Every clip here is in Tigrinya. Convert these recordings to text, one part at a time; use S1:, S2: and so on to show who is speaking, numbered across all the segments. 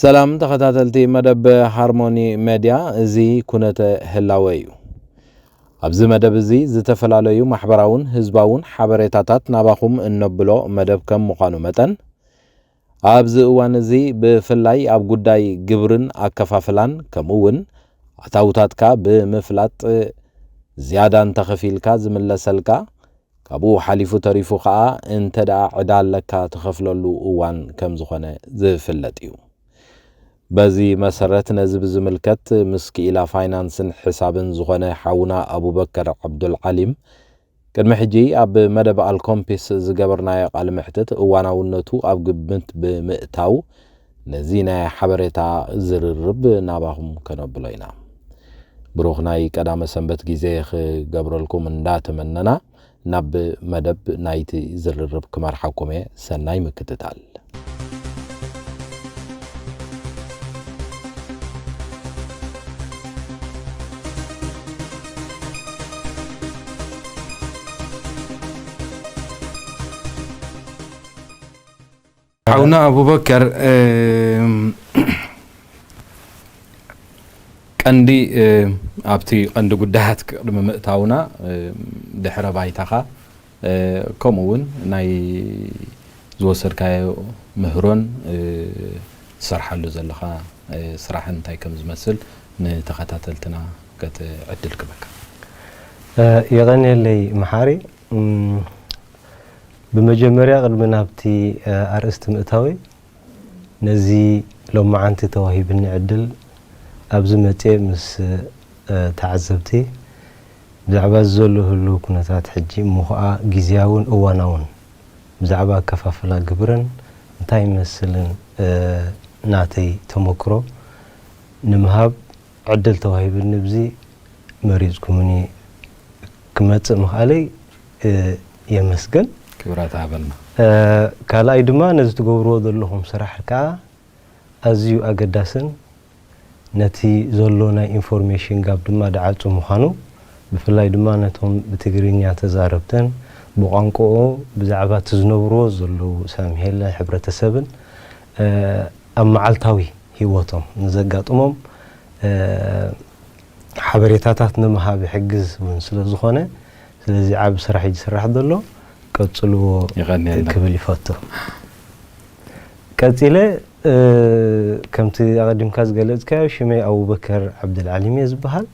S1: ሰላም ተኸታተልቲ መደብ ሃርሞኒ መድያ እዚ ኩነተ ህላወ እዩ። ኣብዚ መደብ እዚ ዝተፈላለዩ ማሕበራውን ህዝባውን ሓበሬታታት ናባኹም እነብሎ መደብ ከም ምዃኑ መጠን ኣብዚ እዋን እዚ ብፍላይ ኣብ ጉዳይ ግብርን ኣከፋፍላን ከምኡ እውን ኣታውታትካ ብምፍላጥ ዝያዳ እንተኸፊልካ ዝምለሰልካ ካብኡ ሓሊፉ ተሪፉ ከኣ እንተ ደኣ ዕዳ ኣለካ ትኸፍለሉ እዋን ከም ዝኾነ ዝፍለጥ እዩ። በዚ መሰረት ነዚ ብዝምልከት ምስ ክኢላ ፋይናንስን ሕሳብን ዝኾነ ሓውና ኣቡበከር ዓብዱልዓሊም ቅድሚ ሕጂ ኣብ መደብ ኣልኮምፒስ ዝገበርናዮ ቃለ መሕትት እዋናውነቱ ኣብ ግምት ብምእታው ነዚ ናይ ሓበሬታ ዝርርብ ናባኹም ከነብሎ ኢና። ብሩኽ ናይ ቀዳመ ሰንበት ግዜ ክገብረልኩም እንዳ ተመነና ናብ መደብ ናይቲ ዝርርብ ክመርሓኩም እየ ሰናይ ምክትታል። ሓውና ኣቡበከር ቀንዲ ኣብቲ ቀንዲ ጉዳያት ቅድሚ ምእታውና ድሕረ ባይታኻ ከምኡ እውን ናይ ዝወሰድካዮ ምህሮን ትሰርሓሉ ዘለኻ ስራሕን እንታይ ከም ዝመስል ንተኸታተልትና ከትዕድል ክበካ
S2: የቐንየለይ መሓሪ ብመጀመርያ ቅድሚ ናብቲ ኣርእስቲ ምእታወይ ነዚ ሎማዓንቲ ተዋሂብኒ ዕድል ኣብዚ መጽየ ምስ ተዓዘብቲ ብዛዕባ እዚ ዘሎ ህሉው ኩነታት ሕጂ እሞ ኹኣ ግዝያውን እዋናውን ብዛዕባ ኣከፋፍላ ግብርን እንታይ ይመስልን ናተይ ተሞክሮ ንምሃብ ዕድል ተዋሂብኒ ብዚ መሪጽኩምኒ ክመጽእ ምኽኣለይ የመስግን። ክብራ
S1: ትሃበልና። ካልኣይ
S2: ድማ ነዚ ትገብርዎ ዘለኹም ስራሕ ከኣ ኣዝዩ ኣገዳስን ነቲ ዘሎ ናይ ኢንፎርሜሽን ጋብ ድማ ድዓጹ ምዃኑ ብፍላይ ድማ ነቶም ብትግርኛ ተዛረብትን ብቋንቁኡ ብዛዕባ እቲ ዝነብርዎ ዘለዉ ሳምሄለ ሕብረተሰብን ኣብ መዓልታዊ ሂወቶም ንዘጋጥሞም ሓበሬታታት ንምሃብ ይሕግዝ ውን ስለ ዝኾነ ስለዚ ዓቢ ስራሕ እዩ ዝስራሕ ዘሎ ቀጽልዎ የቐንየልና። ክብል ይፈቱ። ቀጺለ ከምቲ ኣቐዲምካ ዝገለጽካዮ ሽመይ ኣቡበከር ዓብደልዓሊም እየ ዝበሃል።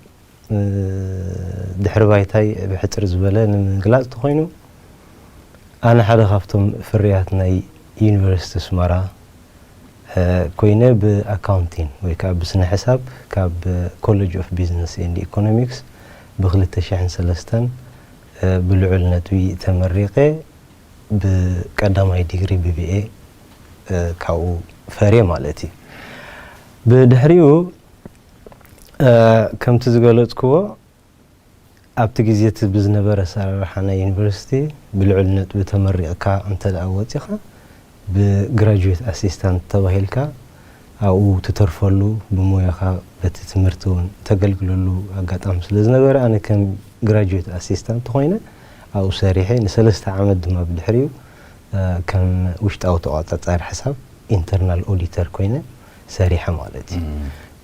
S2: ድሕሪ ባይታይ ብሕጽር ዝበለ ንምግላጽ ተኾይኑ ኣነ ሓደ ካብቶም ፍርያት ናይ ዩኒቨርሲቲ ኣስመራ ኮይነ ብኣካውንቲን ወይ ከኣ ብስነ ሕሳብ ካብ ኮለጅ ኦፍ ቢዝነስ ኤንድ ኢኮኖሚክስ ብ ክልተ ሽሕን ሰለስተን ብልዑል ነጥቢ ተመሪቐ ብ ቀዳማይ ዲግሪ ብብኤ ካብኡ ፈርየ ማለት እዩ። ብድሕሪኡ ከምቲ ዝገለጽክዎ ኣብቲ ግዜ እቲ ብዝነበረ ኣሰራርሓ ናይ ዩኒቨርሲቲ ብልዑል ነጥቢ ተመሪቕካ እንተድኣ ወጺኻ ብግራጁዌት ኣሲስታንት ተባሂልካ ኣብኡ ትተርፈሉ ብሞያኻ በቲ ትምህርቲ እውን እተገልግለሉ ኣጋጣሚ ስለ ዝነበረ ኣነ ከም ግራጁዌት ኣሲስታንት ኾይነ ኣብኡ ሰሪሐ ንሰለስተ ዓመት ድማ ብድሕሪኡ ከም ውሽጣዊ ተቖጻጻሪ ሕሳብ ኢንተርናል ኦዲተር ኮይነ ሰሪሐ ማለት እዩ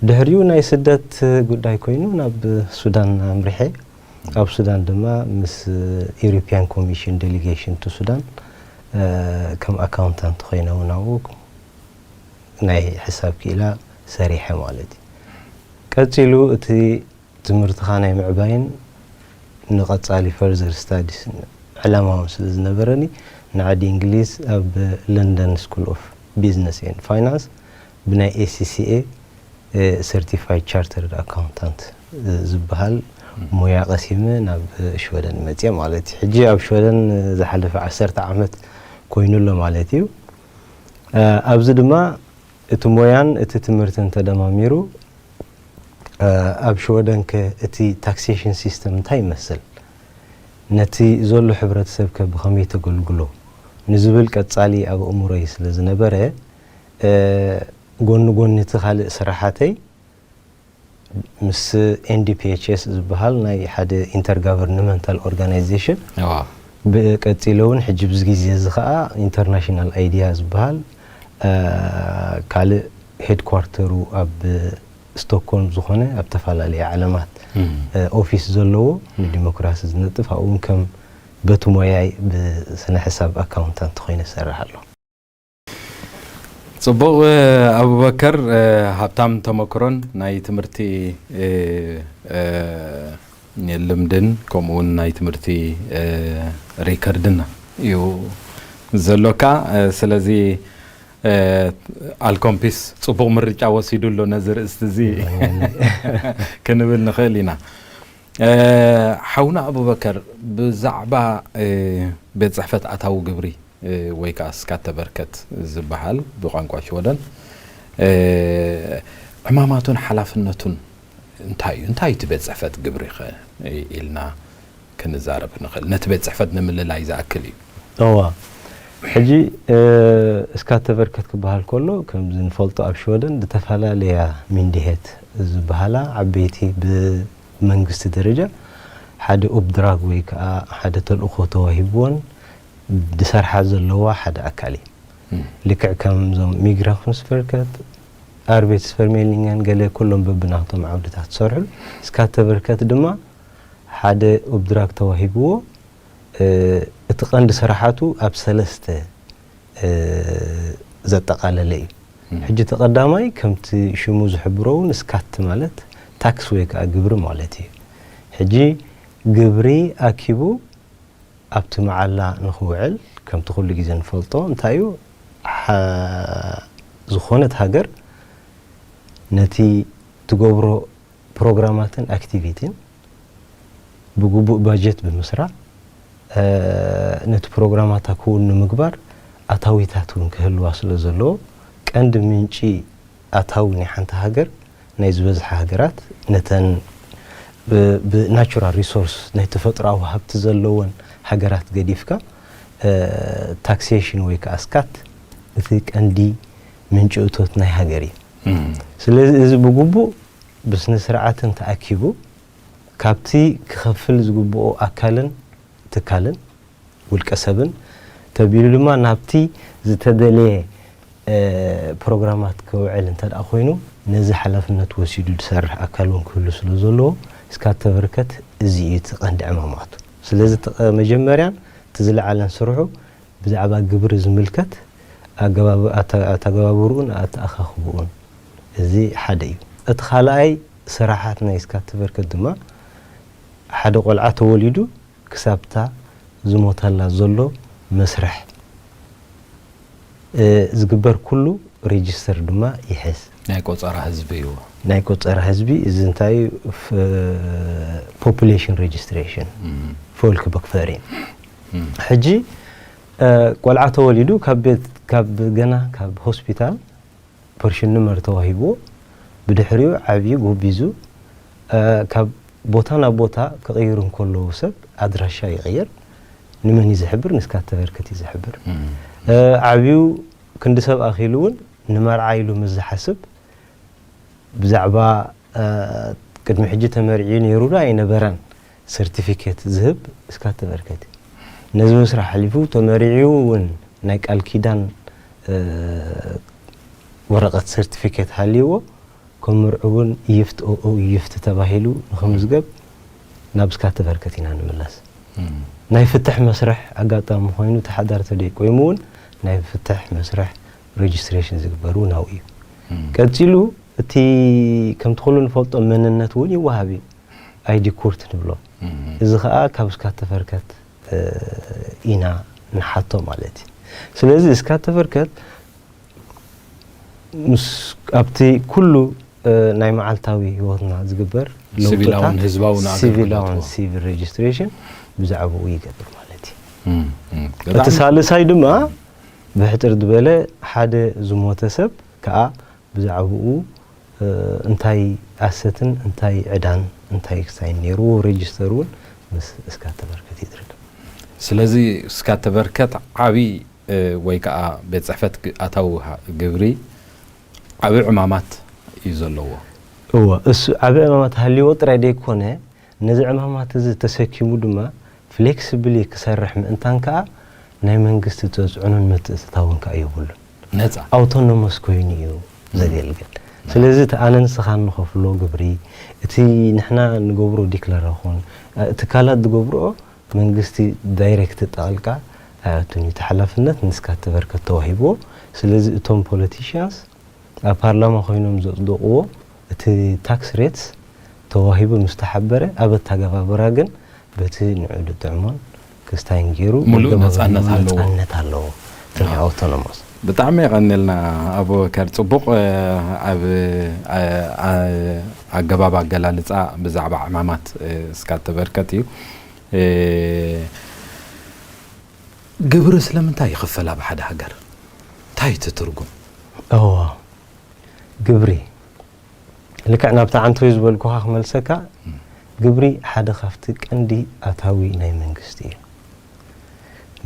S2: ድሕሪኡ ናይ ስደት ጉዳይ ኮይኑ ናብ ሱዳን ኣምሪሐ ኣብ ሱዳን ድማ ምስ ኢሮፒያን ኮሚሽን ዴሊጌሽን ቱ ሱዳን ከም ኣካውንታንት ኮይነ እውን ኣብኡ ናይ ሕሳብ ክኢላ ሰሪሐ ማለት እዩ ቀፂሉ እቲ ትምህርትኻ ናይ ምዕባይን ንቐጻሊ ፈርዘር ስታዲስ ዕላማውን ስለ ዝነበረኒ፣ ንዓዲ እንግሊዝ ኣብ ለንደን ስኩል ኦፍ ቢዝነስ ኤንድ ፋይናንስ ብናይ ACCA ሰርቲፋይድ ቻርተርድ ኣካውንታንት ዝበሃል ሞያ ቀሲመ ናብ ሽወደን መጽየ ማለት እዩ። ሕጂ ኣብ ሽወደን ዝሓለፈ ዓሰርተ ዓመት ኮይኑ ኣሎ ማለት እዩ። ኣብዚ ድማ እቲ ሞያን እቲ ትምህርትን ተደማሚሩ ኣብ ሽወደንከ እቲ ታክሴሽን ሲስተም እንታይ ይመስል? ነቲ ዘሎ ሕብረተሰብከ ብኸመይ ተገልግሎ? ንዝብል ቀጻሊ ኣብ ኣእምሮይ ስለ ዝነበረ ጎኒ ጎኒ እቲ ካልእ ስራሓተይ፣ ምስ NDPHS ዝበሃል ናይ ሓደ ኢንተርጋቨርንመንታል ኦርጋናይዜሽን ቀጺለውን ሕጂ ኣብዚ ግዜ እዚ ከኣ ኢንተርናሽናል ኣይዲያ ዝበሃል ካልእ ሄድኳርተሩ ኣብ ስቶክሆልም ዝኾነ ኣብ ተፈላለየ ዓለማት ኦፊስ ዘለዎ ንዲሞክራሲ ዝነጥፍ ኣብኡውን ከም በቲ ሞያይ ብስነ ሕሳብ ኣካውንታንት ኾይነ ዝሰርሕ ኣለኹ።
S1: ጽቡቕ ኣቡበከር ሃብታም ተመክሮን ናይ ትምህርቲ ልምድን ከምኡ ውን ናይ ትምህርቲ ሪከርድን እዩ ዘሎካ ስለዚ ኣልኮምፒስ ጽቡቕ ምርጫ ወሲዱ ኣሎ ነዚ ርእስቲ እዚ ክንብል ንኽእል ኢና ሓውና ኣቡበከር ብዛዕባ ቤት ጽሕፈት ኣታዊ ግብሪ ወይ ከኣ ስካተቨርከት ዝበሃል ብቋንቋ ሽወደን፣ ዕማማቱን ሓላፍነቱን እንታይ እዩ? እንታይ እዩ እቲ ቤት ጽሕፈት ግብሪኸ? ኢልና ክንዛረብ ንኽእል። ነቲ ቤት ጽሕፈት ንምልላይ ዝኣክል እዩ። እወ፣
S2: ሕጂ ስካተቨርከት ክበሃል ከሎ ከምዚ ንፈልጦ ኣብ ሽወደን ዝተፈላለያ ሚንዲሄት ዝበሃላ ዓበይቲ ብመንግስቲ ደረጃ ሓደ ኡፕድራግ ወይ ከኣ ሓደ ተልእኾ ተዋሂብወን፣ ዝሰርሓ ዘለዋ ሓደ ኣካል እዩ። ልክዕ ከም እዞም ሚግራኹንስቨርከት፣ ኣርቤትስፈርሜልኒንገን ገለ ኩሎም በብናቶም ዓውድታት ዝሰርሑሉ፣ ስካተቨርከት ድማ ሓደ ኡብድራግ ተዋሂብዎ እቲ ቀንዲ ስራሓቱ ኣብ ሰለስተ ዘጠቓለለ እዩ። ሕጂ እቲ ቀዳማይ ከምቲ ሽሙ ዝሕብሮ እውን ስካት ማለት ታክስ ወይ ከዓ ግብሪ ማለት እዩ። ሕጂ ግብሪ ኣኪቡ ኣብቲ መዓላ ንኽውዕል ከምቲ ኩሉ ግዜ ንፈልጦ እንታይ እዩ ዝኾነት ሃገር ነቲ ትገብሮ ፕሮግራማትን ኣክቲቪቲን ብግቡእ ባጀት ብምስራዕ ነቲ ፕሮግራማታ ክውን ንምግባር ኣታዊታት እውን ክህልዋ ስለ ዘለዎ ቀንዲ ምንጪ ኣታዊ ናይ ሓንቲ ሃገር ናይ ዝበዝሓ ሃገራት ነተን ብናቹራል ሪሶርስ ናይ ተፈጥሮኣዊ ሃብቲ ዘለወን ሃገራት ገዲፍካ ታክሴሽን ወይ ከዓ ስካት እቲ ቀንዲ ምንጪ እቶት ናይ ሃገር እዩ። ስለዚ እዚ ብግቡእ ብስነ ስርዓትን ተኣኪቡ ካብቲ ክኸፍል ዝግብኦ ኣካልን ትካልን ውልቀ ሰብን ተቢሉ ድማ ናብቲ ዝተደልየ ፕሮግራማት ክውዕል እንተድኣ ኮይኑ ነዚ ሓላፍነት ወሲዱ ዝሰርሕ ኣካል እውን ክህሉ ስለ ዘለዎ እስካብ ተበርከት እዚ እዩ እቲ ቀንዲ ዕማማቱ። ስለዚ እቲ መጀመርያን እቲ ዝለዓለን ስርሑ ብዛዕባ ግብሪ ዝምልከት ኣተገባብርኡን ኣተኣኻኽብኡን እዚ ሓደ እዩ። እቲ ካልኣይ ስራሓት ናይ እስካብ ተበርከት ድማ ሓደ ቆልዓ ተወሊዱ ክሳብታ ዝሞተላ ዘሎ መስርሕ ዝግበር ኩሉ ሬጅስተር ድማ ይሕዝ። ናይ ቆጸራ ህዝቢ
S1: እዩ። ናይ ቆጸራ
S2: ህዝቢ እዚ እንታይ እዩ ፖፕሌሽን ሬጅስትሬሽን ፎልክቦክፈሪን ሕጂ ቆልዓ ተወሊዱ ካብ ቤት ካብ ገና ካብ ሆስፒታል ፐርሽንመር ተዋሂብዎ ብድሕሪኡ ዓብዩ ጎቢዙ ካብ ቦታ ናብ ቦታ ክቕይር እንከሎ ሰብ ኣድራሻ ይቕይር ንመን እዩ ዝሕብር ንስካ እተበርክት እዩ ዝሕብር ዓብዩ ክንዲ ሰብ ኣኺሉ እውን ንመርዓ ኢሉ ምስ ዝሓስብ ብዛዕባ ቅድሚ ሕጂ ተመርዕዩ ነይሩ ዶ ኣይነበረን ሰርቲፊኬት ዝህብ እስካት ተመልከቲ። ነዚ ምስራሕ ሓሊፉ ተመሪዕዩ እውን ናይ ቃል ኪዳን ወረቐት ሰርቲፊኬት ሃልይዎ ከም ምርዑው እውን ይፍት ኦኡ ይፍት ተባሂሉ ንክምዝገብ ናብ እስካት ተመልከቲ ኢና ንምለስ። ናይ ፍትሕ መስርሕ ኣጋጣሚ ኮይኑ እቲ ሓዳር ተደይቆይሙ እውን ናይ ፍትሕ መስርሕ ሬጅስትሬሽን ዝግበር እውን ኣብኡ እዩ። ቀፂሉ እቲ ከምቲ ኩሉ ንፈልጦ መንነት እውን ይወሃብ እዩ። ኣይ ዲኩርት ንብሎ እዚ ከኣ ካብ እስካተፈርከት ኢና ንሓቶ ማለት እዩ ስለዚ እስካተፈርከት ምስ ኣብቲ ኩሉ ናይ መዓልታዊ ሂወትና ዝግበር ለውጥታት
S1: ሲቪላውን ሲቪል
S2: ሬጅስትሬሽን ብዛዕባኡ ይገብር ማለት እዩ እቲ ሳልሳይ ድማ ብሕጽር ዝበለ ሓደ ዝሞተ ሰብ ከኣ ብዛዕብኡ እንታይ ኣሰትን እንታይ ዕዳን እንታይ ክሳይን ነይርዎ ሬጅስተር እውን ምስ እስካተ በርከት ይድረግ። ስለዚ
S1: እስካተ በርከት ዓቢ ወይ ከኣ ቤት ጽሕፈት ኣታዊ ግብሪ ዓቢ ዕማማት እዩ ዘለዎ። እወ
S2: እሱ ዓቢ ዕማማት ሃልይዎ ጥራይ ደይኮነ ነዚ ዕማማት እዚ ተሰኪሙ ድማ ፍሌክስብሊ ክሰርሕ ምእንታን ከኣ ናይ መንግስቲ ተጽዕኖን ምትእትታውን ከኣ
S1: የብሉን።
S2: ነጻ። ኣውቶኖመስ ኮይኑ እዩ ዘገልግል። ስለዚ እቲ ኣነ ንስኻ እንኸፍሎ ግብሪ፣ እቲ ንሕና ንገብሮ ዲክለረኹን፣ ትካላት ዝገብርኦ መንግስቲ ዳይረክት ጣልቃ ኣይኣቱን እዩ። እቲ ሓላፍነት ንስካ ተበርከት ተዋሂብዎ። ስለዚ እቶም ፖለቲሽያንስ ኣብ ፓርላማ ኮይኖም ዘጽደቕዎ፣ እቲ ታክስ ሬትስ ተዋሂቡ ምስ ተሓበረ ኣብ ኣተገባብራ ግን በቲ ንዕኡ ዝጥዕሞን ክስታይን ገይሩ ሙሉእ ነጻነት ኣለዎ።
S1: ምሉእ ነጻነት ኣለዎ።
S2: እቲ ናይ ኣውቶኖሞስ። ብጣዕሚ
S1: የቐንየልና ኣቡበከር ጽቡቕ ኣብ ኣገባብ ኣገላልጻ ብዛዕባ ዕማማት እስካ እተበርከት እዩ። ግብሪ ስለምንታይ ይኽፈል ኣብ ሓደ ሃገር? እንታይ እዩ እቲ ትርጉም? እዎ።
S2: ግብሪ ልክዕ ናብታ ዓንተዩ ዝበልኩኻ ክመልሰካ ግብሪ ሓደ ካብቲ ቀንዲ ኣታዊ ናይ መንግስቲ እዩ።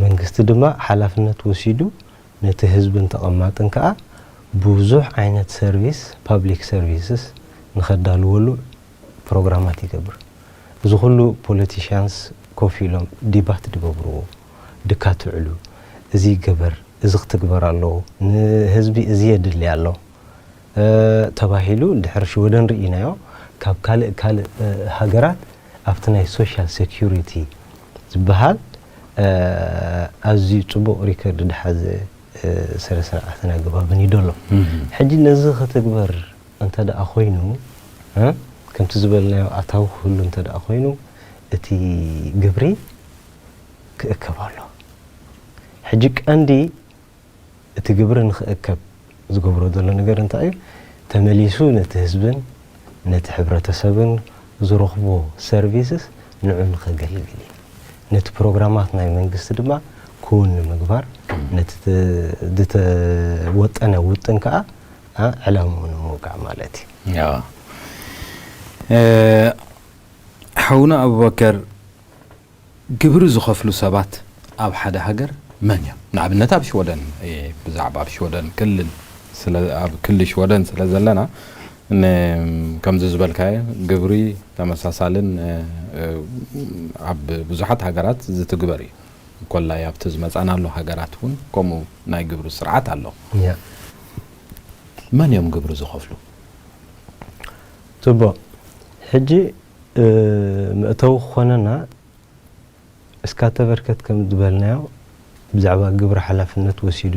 S2: መንግስቲ ድማ ሓላፍነት ወሲዱ ነቲ ህዝብን ተቐማጥን ከኣ ብዙሕ ዓይነት ሰርቪስ፣ ፓብሊክ ሰርቪስስ፣ ንኸዳልወሉ ፕሮግራማት ይገብር። እዚ ኩሉ ፖለቲሽያንስ ኮፍ ኢሎም ዲባት ድገብርዎ። ድካ ትውዕሉ እዚ ይገበር እዚ ክትግበር ኣለዎ ንህዝቢ እዚ የድሊ ኣሎ ተባሂሉ ድሕሪ ሽወደን ርኢናዮ ካብ ካልእ ካልእ ሃገራት ኣብቲ ናይ ሶሻል ሰኩሪቲ ዝብሃል ኣዝዩ ጽቡቅ ሪከርድ ድሓዘ ስረ ስርዓትን ኣገባብን እዩ ደሎ ሕጂ ነዚ ክትግበር እንተ ደኣ ኮይኑ ከምቲ ዝበልናዮ ኣታዊ ክህሉ እንተ ደኣ ኮይኑ እቲ ግብሪ ክእከብ ኣሎ። ሕጂ ቀንዲ እቲ ግብሪ ንክእከብ ዝገብሮ ዘሎ ነገር እንታይ እዩ? ተመሊሱ ነቲ ህዝብን ነቲ ሕብረተሰብን ዝረኽቦ ሰርቪስስ ንዑ ንከገልግል እዩ። ነቲ ፕሮግራማት ናይ መንግስቲ ድማ ክውን ንምግባር ነቲ ዝተወጠነ ውጥን ከኣ ዕላምኡ ንምውቃዕ ማለት እዩ።
S1: ሓውና ኣቡበከር ግብሪ ዝኸፍሉ ሰባት ኣብ ሓደ ሃገር መን እዮም? ንኣብነት ኣብ ሽወደን እየ ብዛዕባ ኣብ ሽወደን ክልል ስለ ኣብ ክሊ ሽወደን ስለ ዘለና ን ከምዚ ዝበልካዮ ግብሪ ተመሳሳልን ኣብ ብዙሓት ሃገራት ዝትግበር እዩ ኮላይ ኣብቲ ዝመጻናሉ ሃገራት ውን ከምኡ ናይ ግብሪ ስርዓት ኣሎ። መን እዮም ግብሪ ዝኸፍሉ?
S2: ጽቡቕ ሕጂ መእተዊ ክኾነና እስካ ተበርከት ከም ዝበልናዮ ብዛዕባ ግብሪ ሓላፍነት ወሲዱ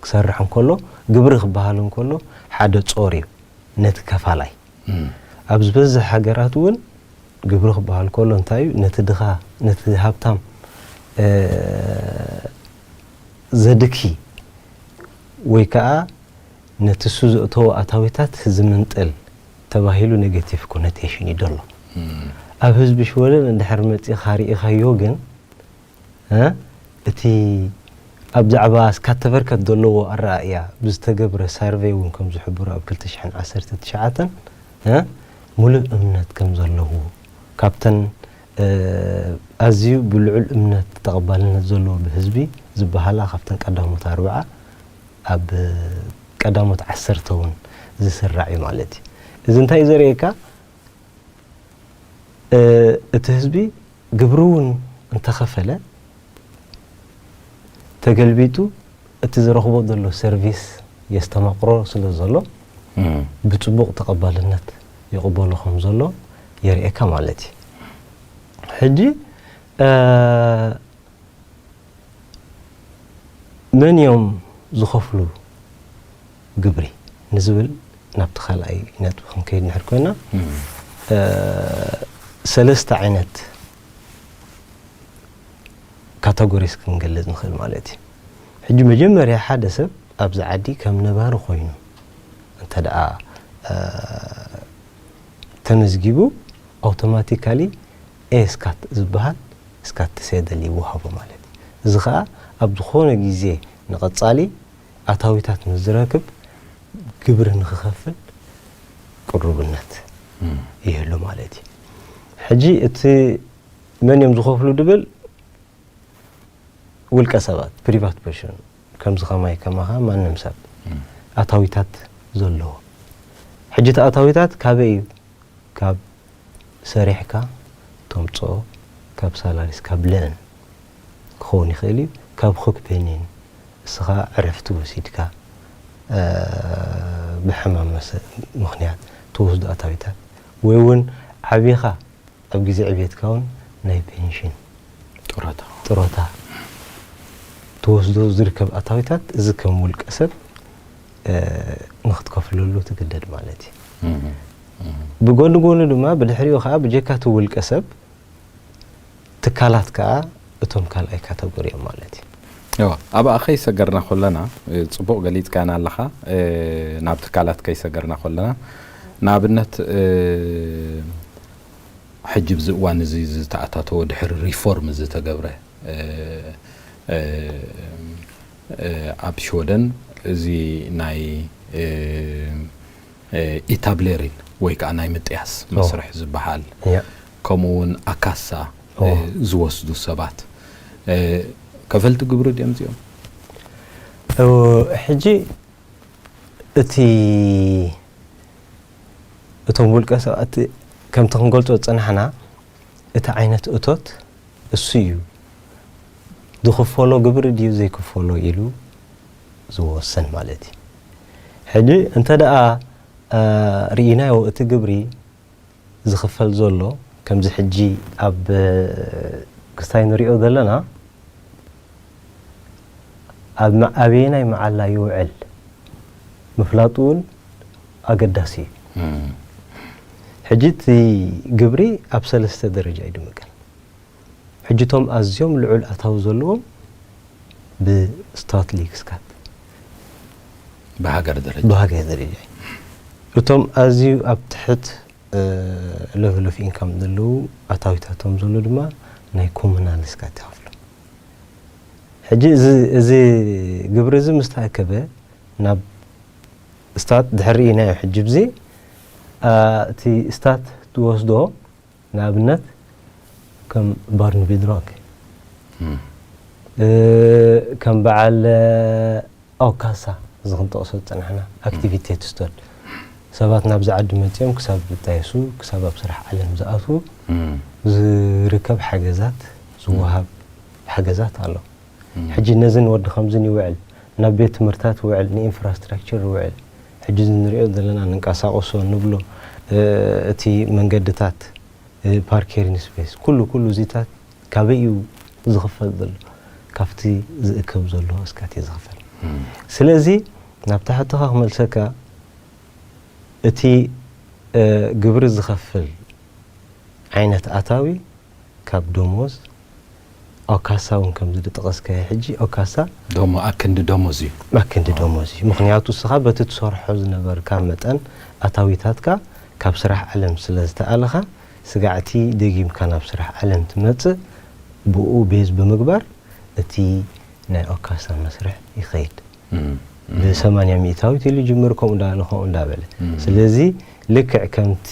S2: ክሰርሕ እንከሎ ግብሪ ክበሃል እንከሎ ሓደ ጾር እዩ ነቲ ከፋላይ። ኣብ ዝበዝሕ ሃገራት እውን ግብሪ ክበሃል ከሎ እንታይ እዩ ነቲ ድኻ ነቲ ሃብታም ዘድኪ ወይ ከኣ ነቲ እሱ ዘእተዎ ኣታዊታት ዝምንጥል ተባሂሉ ኔገቲቭ ኮነቴሽን እዩ ደሎ። ኣብ ህዝቢ ሽወደን እንድሕር መጺኻ ርኢኻዮ ግን እቲ ኣብ ዛዕባ ስካተቨርከት ደለዎ ኣረኣእያ ብዝተገብረ ሳርቨይ እውን ከም ዝሕብሮ ኣብ ክልተ ሽሕን ዓሰርተ ትሽዓተን ምሉእ እምነት ከም ዘለዎ ካብተን ኣዝዩ ብልዑል እምነት ተቐባልነት ዘለዎ ብህዝቢ ዝበሃላ ካብተን ቀዳሞት ኣርብዓ ኣብ ቀዳሞት ዓሰርተ ውን ዝስራዕ እዩ ማለት እዩ። እዚ እንታይ እዩ ዘርእየካ እቲ ህዝቢ ግብሪ ውን እንተኸፈለ ተገልቢጡ እቲ ዝረኽቦ ዘሎ ሰርቪስ የስተማቕሮ ስለ ዘሎ ብፅቡቕ ተቐባልነት ይቕበሎ ከም ዘሎ የርእየካ ማለት እዩ። ሕጂ መን እዮም ዝኸፍሉ ግብሪ ንዝብል ናብቲ ካልኣይ ነጥቢ ክንከይድ እንድሕር ኮይና ሰለስተ ዓይነት ካታጎሪስ ክንገልጽ ንኽእል ማለት እዩ። ሕጂ መጀመርያ ሓደ ሰብ ኣብዚ ዓዲ ከም ነባሪ ኮይኑ እንተ ደኣ ተመዝጊቡ ኣውቶማቲካሊ ኤ-ስካት ዝበሃል ስካትሴደል ይወሃቦ ማለት እዩ። እዚ ከኣ ኣብ ዝኾነ ግዜ ንቐጻሊ ኣታዊታት ምስ ዝረክብ ግብሪ ንክኸፍል ቅሩብነት ይህሉ ማለት እዩ። ሕጂ እቲ መን እዮም ዝኸፍሉ ድብል ውልቀ ሰባት ፕሪቫት ፐርሾን ከምዚ ከማይ ከማኻ ማንም ሰብ ኣታዊታት ዘለዎ። ሕጂ እቲ ኣታዊታት ካበይ እዩ ካብ ሰሪሕካ ተምጽኦ ካብ ሳላሪስ ካብ ለእን ክኸውን ይኽእል እዩ ካብ ኹክፔኒን እስኻ ዕረፍቲ ወሲድካ ብሕማም መሰ ምኽንያት ትወስዶ ኣታዊታት ወይ ውን ዓቢኻ ኣብ ግዜ ዕብየትካ ውን ናይ ፔንሽን ጡረታ ጡረታ ትወስዶ ዝርከብ ኣታዊታት እዚ ከም ውልቀ ሰብ ንክትከፍለሉ ትግደድ ማለት እዩ። ብጎኒ ጎኑ ድማ ብድሕሪኡ ከዓ ብጀካ እቲ ውልቀ ሰብ ትካላት ከዓ እቶም ካልኣይ ካተጎሪ እዮም ማለት እዩ። እወ ኣብኣ
S1: ከይሰገርና ኮለና ፅቡቅ ገሊፅካና ኣለኻ ናብ ትካላት ከይሰገርና ኮለና ንኣብነት ሕጂ ብዚ እዋን እዚ ዝተኣታተወ ድሕሪ ሪፎርም ዝተገብረ ኣብ ሽወደን እዚ ናይ ኢታብሌሪን ወይ ከኣ ናይ ምጥያስ መስርሕ ዝበሃል ከምኡ ውን ኣካሳ ዝወስዱ ሰባት ከፈልቲ ግብሪ ድዮም እዚኦም?
S2: ሕጂ እቲ እቶም ውልቀ ሰባት ከምቲ ክንገልጾ ዝጸናሕና እቲ ዓይነት እቶት እሱ እዩ ዝኽፈሎ ግብሪ ድዩ ዘይክፈሎ ኢሉ ዝወስን ማለት እዩ። ሕጂ እንተ ደኣ ርኢናዮ እቲ ግብሪ ዝኽፈል ዘሎ ከምዚ ሕጂ ኣብ ክስታይ ንሪኦ ዘለና ኣብ ኣበየናይ መዓላ ይውዕል ምፍላጡ እውን ኣገዳሲ እዩ። ሕጂ እቲ ግብሪ ኣብ ሰለስተ ደረጃ እዩ ድምቀል። ሕጂ እቶም ኣዝዮም ልዑል ኣታዊ ዘለዎም ብስታትሊክስካት ብሃገር
S1: ደረጃ ብሃገር ደረጃ
S2: እቶም ኣዝዩ ኣብ ትሕት ለቨል ኦፍ ኢንካም ዘለዉ ኣታዊታቶም ዘሎ ድማ ናይ ኮሙናልስካት ይኸፍሉ ሕጂ እዚ ግብሪ እዚ ምስ ተኣከበ ናብ ስታት ድሕሪ ኢና ሕጂ ብዚ እቲ ስታት ትወስዶ ንኣብነት ከም ባርንቪል ሮክ ከም በዓል ኣውካሳ እዚ ክንጠቕሶ ዝጸናሕና ኣክቲቪቴት ስቶል ሰባት ናብዚ ዓዲ መጺኦም ክሳብ ዝጣየሱ ክሳብ ኣብ ስራሕ ዓለም ዝኣትዉ ዝርከብ ሓገዛት ዝወሃብ ሓገዛት ኣሎ ሕጂ ነዚ ንወዲ ከምዚ ይውዕል ናብ ቤት ትምህርታት ይውዕል ንኢንፍራስትራክቸር ይውዕል ሕጂ እንሪኦ ዘለና ንንቀሳቀሶ ንብሎ እቲ መንገድታት ፓርኬሪን ስፔስ ኩሉ ኩሉ እዚታት ካበይ እዩ ዝኽፈል ዘሎ ካብቲ ዝእከብ ዘሎ ኣስካት እዩ ዝኽፈል ስለዚ ናብታ ሕቶኻ ክመልሰካ እቲ ግብሪ ዝኸፍል ዓይነት ኣታዊ ካብ ደሞዝ ኦብ ካሳ ውን ከምዚ ድጠቐስካዮ ሕጂ ኦብ ካሳ ደሞ ኣክንዲ
S1: ደሞዝ እዩ። ኣክንዲ ደሞዝ እዩ
S2: ምኽንያቱ እስኻ በቲ ትሰርሖ ዝነበርካ መጠን ኣታዊታትካ ካብ ስራሕ ዓለም ስለ ዝተኣለኻ ስጋዕቲ ደጊምካ ናብ ስራሕ ዓለም ትመጽእ ብኡ ቤዝ ብምግባር እቲ ናይ ኦብ ካሳ መስርሕ ይኸይድ ብሰማንያ ሚእታዊት ኢሉ ይጅምር ከምኡ እንዳበለ ከምኡ እንዳበለ ስለዚ ልክዕ ከምቲ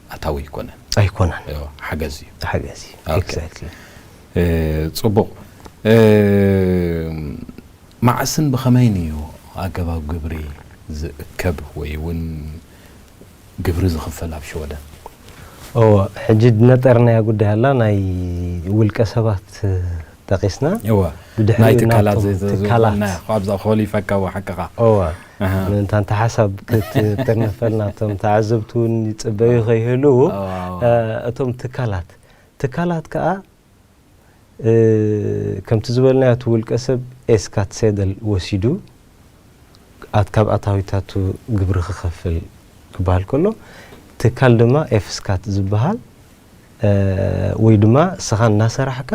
S1: ኣታዊ ኣይኮነን ኣይኮነን እዎ
S2: ሓገዝ እዩ
S1: ሓገዝ እዩ ኦኬ። ኤግዛክትሊ
S2: እ፣
S1: ጽቡቕ እ፣ መዓስን ብኸመይን እዩ ኣገባብ ግብሪ ዝእከብ ወይ እውን ግብሪ ዝኽፈል ኣብ ሽወደን እዎ
S2: ሕጂ ነጠርናያ ጉዳይ ኣላ ናይ ውልቀ ሰባት ጠቂስና እወ ብድሕሪኡ
S1: ናይ ትካላት ናብቶም ዘ- ዘ- ዘ- ትካላት ዝበልናዮ ካብዛ ኮሊ ፈካዎ ሓቅኻ እወ ኣሃ። ምእንታ እንተ ሓሳብ ክትጥርነፈልና እቶም ተዓዘብቲ እውን ይፅበዩ ከይህልው እወ፣ እወ። እ፣ እቶም ትካላት ትካላት ከዓ እ፣ ከምቲ ዝበልናዮ እቲ ውልቀ ሰብ ኤስካት ሴደል ወሲዱ ኣት- ካብ ኣታዊታቱ ግብሪ ክኸፍል ክበሃል ከሎ ትካል ድማ ኤፍስካት ዝበሃል ወይ ድማ እስኻ እናሰራሕካ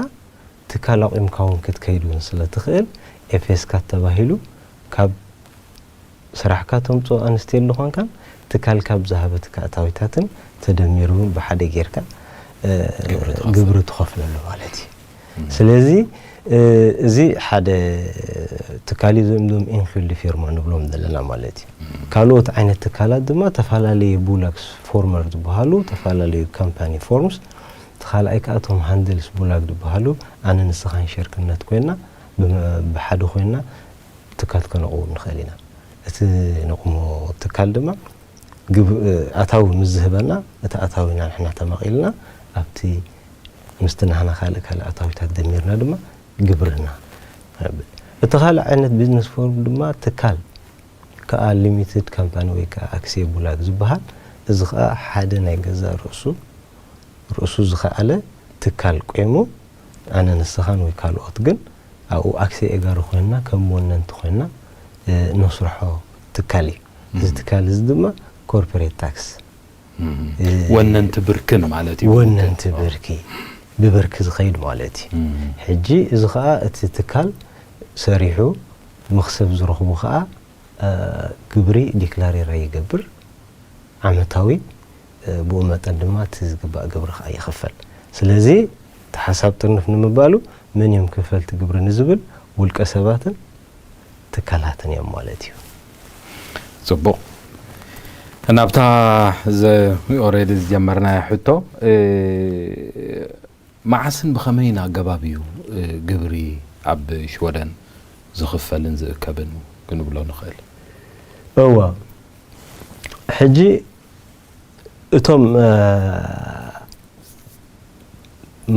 S1: ትካል ኣቑምካ ውን ክትከይድ ውን ስለ ትኽእል ኤፌስካት ተባሂሉ ካብ ስራሕካ ተምፅኦ ኣንስቴሉ ኾንካን ትካልካ ብዝሃበትካ ኣታዊታትን ተደሚሩ ውን ብሓደ ጌርካ ግብሪ ትኸፍለሉ ማለት እዩ።
S2: ስለዚ እዚ ሓደ ትካል እዩ እዞም ኢንፊልድ ፊርማ ንብሎም ዘለና ማለት እዩ ካልኦት ዓይነት ትካላት ድማ ተፈላለየ ቡላክስ ፎርመር ዝበሃሉ ተፈላለዩ ካምፓኒ ፎርምስ እቲ ካልኣይ ከዓ እቶም ሃንድልስ ቡላግ ዝበሃሉ ኣነ ንስኻን ሸርክነት ኮይና ብሓደ ኮይና ትካል ከነቕውም ንኽእል ኢና እቲ ነቑሞ ትካል ድማ ኣታዊ ምስ ዝህበና እቲ ኣታዊና ንሕና ተማቒልና ኣብቲ ምስቲ ናህና ካልእ ካልእ ኣታዊታት ደሚርና ድማ ግብርና ነብል። እቲ ካልእ ዓይነት ቢዝነስ ፎርም ድማ ትካል ከኣ ሊሚትድ ካምፓኒ ወይ ከኣ ኣክስየቡላግ ዝበሃል እዚ ከኣ ሓደ ናይ ገዛእ ርእሱ ርእሱ ዝኸኣለ ትካል ቆይሙ ኣነ ንስኻን ወይ ካልኦት ግን ኣብኡ ኣክስየ ኤጋሪ ኮይንና ከም ወነንቲ ኮይንና ነስርሖ ትካል እዩ። እዚ ትካል እዚ ድማ ኮርፐሬት ታክስ
S1: ወነንቲ ብርክን ማለት እዩ። ወነንቲ ብርኪ
S2: ብብርኪ ዝኸይድ ማለት እዩ። ሕጂ እዚ ኸኣ እቲ ትካል ሰሪሑ መኽሰብ ዝረኽቡ ኸኣ ግብሪ ዲክላሬራ ይገብር ዓመታዊ ብኡ መጠን ድማ እቲ ዝግባእ ግብሪ ኸኣ ይኽፈል። ስለዚ እቲ ሓሳብ ጥርንፍ ንምባሉ መን እዮም ከፈልቲ ግብሪ ንዝብል ውልቀ ሰባትን ትካላትን እዮም ማለት እዩ።
S1: ጽቡቕ ናብታ ዘ ኦሬዲ ዝጀመርናያ ሕቶ መዓስን ብኸመይን ኣገባብ እዩ ግብሪ ኣብ ሽወደን ዝኽፈልን ዝእከብን ክንብሎ ንኽእል? እወ
S2: ሕጂ እቶም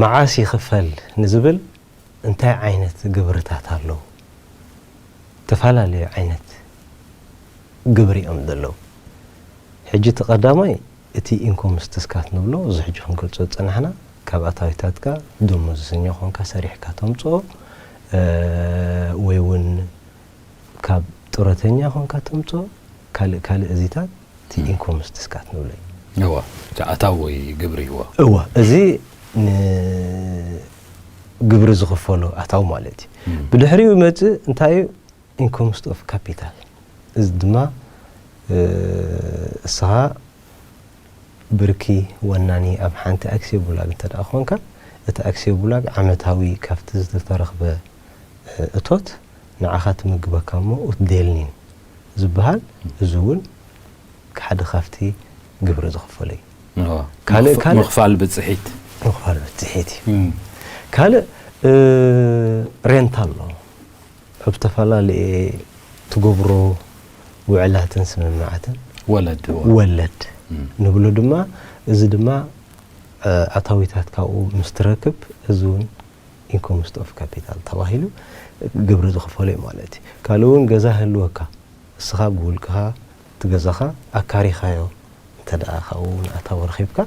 S2: መዓስ ይኽፈል ንዝብል እንታይ ዓይነት ግብርታት ኣለዉ? እተፈላለዩ ዓይነት ግብሪ እዮም ዘለዉ። ሕጂ እቲ ቀዳማይ እቲ ኢንኮም ስትስካት ንብሎ እዚ ሕጂ ክንገልጾ ዝጸናሕና ካብ ኣታዊታትካ ደሞዝሰኛ ኮንካ ሰሪሕካ ተምጽኦ ወይ ውን ካብ ጡረተኛ ኮንካ ተምጽኦ ካልእ ካልእ እዚታት እቲ ኢንኮም ስትስካት ንብሎ እዩ። እወ እቲ
S1: ኣታዊ ግብሪ እወ። እወ እዚ
S2: ን ግብሪ ዝኽፈሎ ኣታዊ ማለት እዩ። ብድሕሪኡ ዝመጽእ እንታይ እዩ? ኢንኮምስት ኦፍ ካፒታል እዚ ድማ እስኻ ብርኪ ወናኒ ኣብ ሓንቲ ኣክስዮ ቡላግ እንተ ኮንካ እቲ ኣክስዮ ቡላግ ዓመታዊ ካብቲ ዝተረኽበ እቶት ንዓኻ ትምግበካ እሞ ኡትዴልኒን ዝበሃል እዚ እውን ሓደ ካብቲ ግብሪ ዝኽፈሎ
S1: እዩ። ምኽፋል ብፅሒት ምኽፋል ብፅሒት እዩ።
S2: ካልእ ሬንታ ኣሎ ኣብ ዝተፈላለየ ትገብሮ ውዕላትን ስምምዓትን ወለድ ንብሎ ድማ እዚ ድማ ኣታዊታት ካብኡ ምስ ትረክብ እዚ እውን ኢንኮም ውስጥ ኦፍ ካፒታል ተባሂሉ ግብሪ ዝኽፈሎ እዩ ማለት እዩ። ካልእ እውን ገዛ ይህልወካ እስኻ ብውልቅኻ እቲ ገዛኻ ኣካሪኻዮ እንተድኣ ካብኡ ውን ኣታዊ ረኺብካ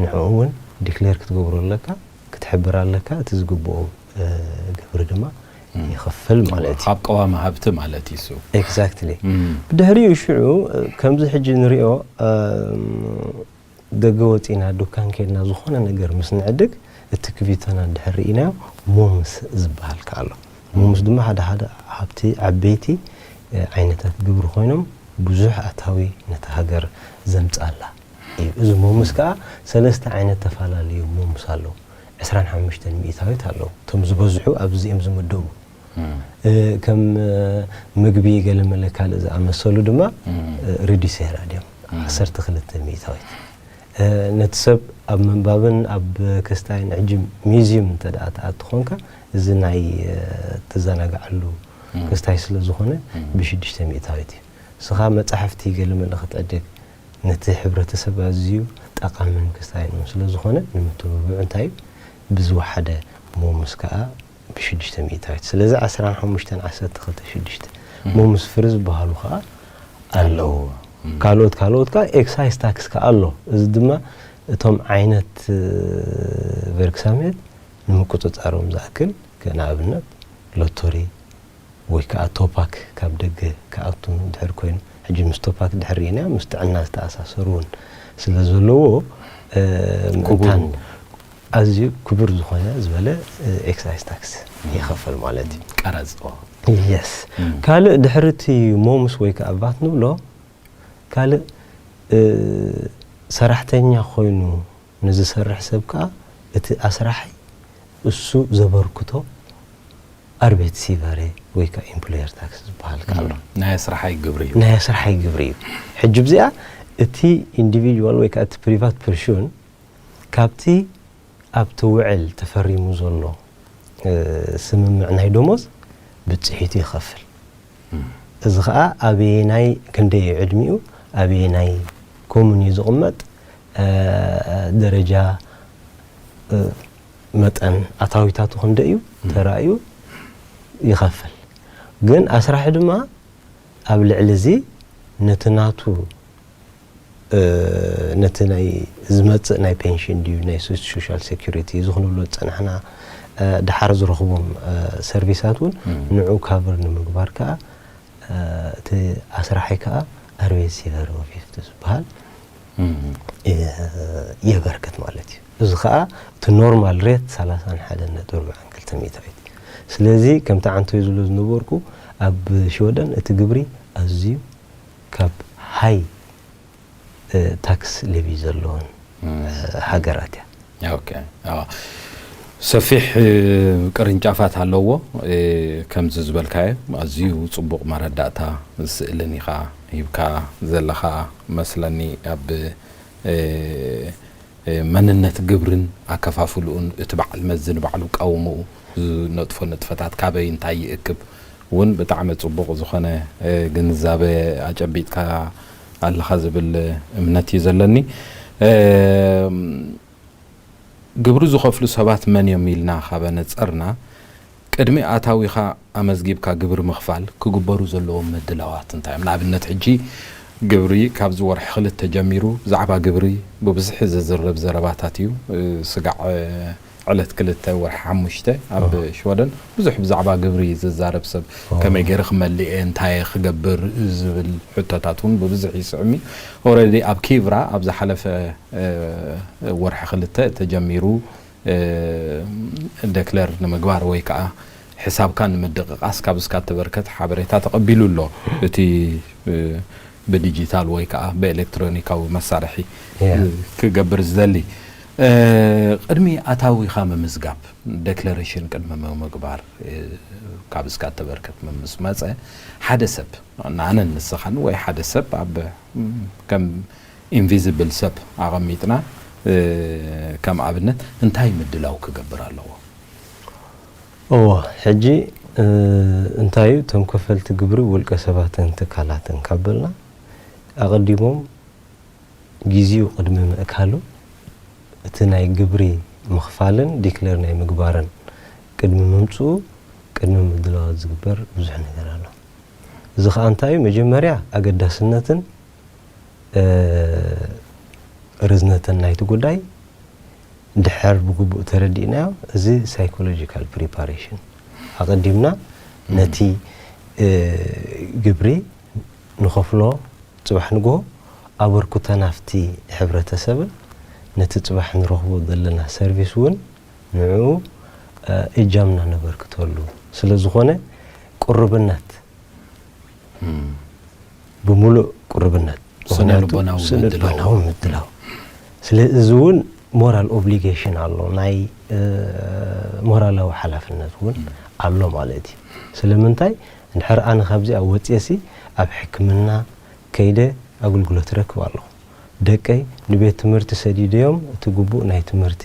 S2: ንዕኡ ውን ዲክሌር ክትገብሮ ኣለካ ክትሕብር ኣለካ እቲ ዝግብኦ ግብሪ ድማ ይኽፍል ማለት እዩ። ኣብ ቀዋሚ ሃብቲ
S1: ማለት እዩ እሱ። ኤግዛክትሊ
S2: ብድሕሪኡ ሽዑ ከምዚ ሕጂ ንሪኦ ደገ ወጺእና ዱካን ኬድና ዝኾነ ነገር ምስ ንዕድግ እቲ ክቪቶና ድሕር ርኢናዮ ሞምስ ዝብሃል ከኣ ኣሎ። ሞምስ ድማ ሓደ ሓደ ሃብቲ ዓበይቲ ዓይነታት ግብሪ ኮይኖም ብዙሕ ኣታዊ ነታ ሃገር ዘምጻላ እዩ። እዚ ሞምስ ከኣ ሰለስተ ዓይነት ተፋላለዩ ሞምስ ኣለዉ። ዕስራን ሓሙሽተን ሚኢታዊት ኣለዉ። እቶም ዝበዝሑ ኣብዚ እዚኦም ዝምደቡ። ከም ምግቢ ገለመለ ካልእ ዝኣመሰሉ ድማ ሪዲሴራ ድዮም ዓሰርተ ክልተ ሚእታዊት ነቲ ሰብ ኣብ ምንባብን ኣብ ክስታይን ሕጂ ሚዚዩም እንተ ደኣ ትኣቱ ኾንካ እዚ ናይ ትዘናግዓሉ ክስታይ ስለ ዝኾነ ብሽዱሽተ ሚእታዊት እዩ እስኻ መጻሕፍቲ ገለመለ ክትዕድግ ነቲ ሕብረተሰብ ኣዝዩ ጠቓምን ክስታይን እውን ስለ ዝኾነ ንምትብብዑ እንታይ እዩ ብዝወሓደ ሞምስ ከኣ ብሽዱሽተ ሚእታዊት ስለዚ ዓስራን ሓሙሽተን ዓሰርተ ክልተ ሽዱሽተ እሞ ምስ ፍሪ ዝበሃሉ ከኣ ኣለዉ ካልኦት ካልኦት ከኣ ኤክሳይስ ታክስ ከኣ ኣሎ እዚ ድማ እቶም ዓይነት ቨርክሳሜት ንምቁጽጻሮም ዝኣክል ንኣብነት ሎቶሪ ወይ ከኣ ቶፓክ ካብ ደገ ክኣቱ እንድሕር ኮይኑ፣ ሕጂ ምስ ቶፓክ ድሕር ሪኢናዮ ምስ ጥዕና ዝተኣሳሰሩ ውን ስለ ዘለዎ ምእንታን ኣዝዩ ክቡር ዝኾነ ዝበለ ኤክሳይዝ ታክስ ይኸፈል ማለት እዩ። ቀረጽ ኦ።
S1: Yes
S2: ካልእ ድሕሪ እቲ ሞምስ ወይ ከኣ ቫት ንብሎ ካልእ ሰራሕተኛ ኮይኑ ንዝሰርሕ ሰብ ከኣ እቲ ኣስራሒ እሱ ዘበርክቶ ኣርቤትሲቨሬ ወይ ከኣ ኢምፕሎየር ታክስ ዝበሃል ከኣ ኣሎ። ናይ ኣስራሓይ ግብሪ
S1: እዩ። ናይ ኣስራሓይ ግብሪ እዩ።
S2: ሕጂ ብዚኣ እቲ ኢንዲቪድዋል ወይ ከኣ እቲ ፕሪቫት ፐርሹን ካብቲ ኣብቲ ውዕል ተፈሪሙ ዘሎ ስምምዕ ናይ ደሞዝ ብጺሒቱ ይኸፍል። እዚ ከኣ ኣበየናይ ክንደይ እዩ ዕድሚኡ ኣበየናይ ኮሙን እዩ ዝቕመጥ ደረጃ መጠን ኣታዊታቱ ክንደይ እዩ ተራእዩ ይኸፍል ግን ኣስራሒ ድማ ኣብ ልዕሊ እዚ ነቲ ናቱ ነቲ ናይ ዝመጽእ ናይ ፔንሽን ድዩ ናይ ሶሻል ሴኩሪቲ እዚ ክንብሎ ዝጸናሕና ድሓር ዝረኽቦም ሰርቪሳት እውን ንዑ ካቨር ንምግባር ከኣ እቲ ኣስራሒ ከኣ ኣርቤት ሲቨር ኦፊፍቲ ዝበሃል የበርክት ማለት እዩ እዚ ከኣ እቲ ኖርማል ሬት ሰላሳን ሓደን ነጥቢ ኣርብዓን ክልተ ሚእታዊት ስለዚ ከምቲ ዓንተይ ዝብሎ ዝነበርኩ ኣብ ሽወደን እቲ ግብሪ ኣዝዩ ካብ ሃይ ታክስ ሌቪ ዘለወን ሃገራት እያ። ኦኬ
S1: ኣዎ ሰፊሕ ቅርንጫፋት ኣለዎ ከምዚ ዝበልካዮ ኣዝዩ ጽቡቕ መረዳእታ ስእልን ኢኻ ሂብካ ዘለኻ መስለኒ ኣብ መንነት ግብርን ኣከፋፍልኡን እቲ በዓል መዚ ንባዕሉ ቀውምኡ ዝነጥፎ ንጥፈታት ካበይ እንታይ ይእክብ ውን ብጣዕሚ ጽቡቕ ዝኾነ ግንዛበ ኣጨቢጥካ ኣለኻ ዝብል እምነት እዩ ዘለኒ። ግብሪ ዝኸፍሉ ሰባት መን እዮም ኢልና ካብ ኣነጸርና ቅድሚ ኣታዊኻ ኣመዝጊብካ ግብሪ ምኽፋል ክግበሩ ዘለዎም ምድላዋት እንታይ እዮም? ንኣብነት ሕጂ ግብሪ ካብዚ ወርሒ ክልተ ጀሚሩ ብዛዕባ ግብሪ ብብዝሒ ዝዝረብ ዘረባታት እዩ ስጋዕ ዕለት ክልተ ወርሒ ሓሙሽተ ኣብ ሽወደን ብዙሕ ብዛዕባ ግብሪ ዝዛረብ ሰብ ከመይ ገይረ ክመልእ እየ እንታይ እየ ክገብር ዝብል ሕቶታት እውን ብብዝሒ ይስዕም እዩ ኦረዲ ኣብ ኪቭራ ኣብ ዝሓለፈ ወርሒ ክልተ ተጀሚሩ ደክለር ንምግባር ወይ ከዓ ሕሳብካ ንምድቕቓስ ካብ እስካ እተበርከት ሓበሬታ ተቐቢሉ ኣሎ እቲ ብዲጂታል ወይ ከኣ ብኤለክትሮኒካዊ መሳርሒ ክገብር ዝደሊ፣ ቅድሚ ኣታዊኻ ምምዝጋብ፣ ደክለረሽን ቅድሚ ምምግባር፣ ካብ እስካ እተበርከት ምስ መጸ፣ ሓደ ሰብ፣ ኣነን ንስኻን ወይ ሓደ ሰብ ኣብ ከም ኢንቪዝብል ሰብ ኣቐሚጥና ከም ኣብነት፣ እንታይ ምድላው ክገብር ኣለዎ? እወ
S2: ሕጂ እንታይ እዩ እቶም ከፈልቲ ግብሪ ውልቀ ሰባትን ትካላትን ካብ በልና ኣቐዲሞም ጊዚኡ ቅድሚ ምእካሉ እቲ ናይ ግብሪ ምኽፋልን ዲክለር ናይ ምግባርን ቅድሚ ምምጽኡ ቅድሚ ምድላዋት ዝግበር ብዙሕ ነገር ኣሎ። እዚ ከኣ እንታይ እዩ መጀመርያ ኣገዳስነትን ርዝነትን ናይቲ ጉዳይ እንድሕር ብግቡእ ተረዲእናዮ እዚ ሳይኮሎጂካል ፕሪፓሬሽን ኣቐዲምና ነቲ ግብሪ ንኸፍሎ ፅባሕ ንግሆ ኣበርክቶ ናፍቲ ሕብረተሰብን ነቲ ፅባሕ ንረኽቦ ዘለና ሰርቪስ እውን ንዕኡ እጃምና ነበርክተሉ ስለዝኾነ ቅሩብነት ብምሉእ ቅሩብነት ስነልቦናዊ ምድላው ስለ እዚ እውን ሞራል ኦብሊጌሽን ኣሎ ናይ ሞራላዊ ሓላፍነት እውን ኣሎ ማለት እዩ ስለምንታይ እንድሕር ኣነ ካብዚኣ ወፅየሲ ኣብ ሕክምና ከይደ ኣገልግሎት ረክብ ኣለኹ ደቀይ ንቤት ትምህርቲ ሰዲደዮም እቲ ግቡእ ናይ ትምህርቲ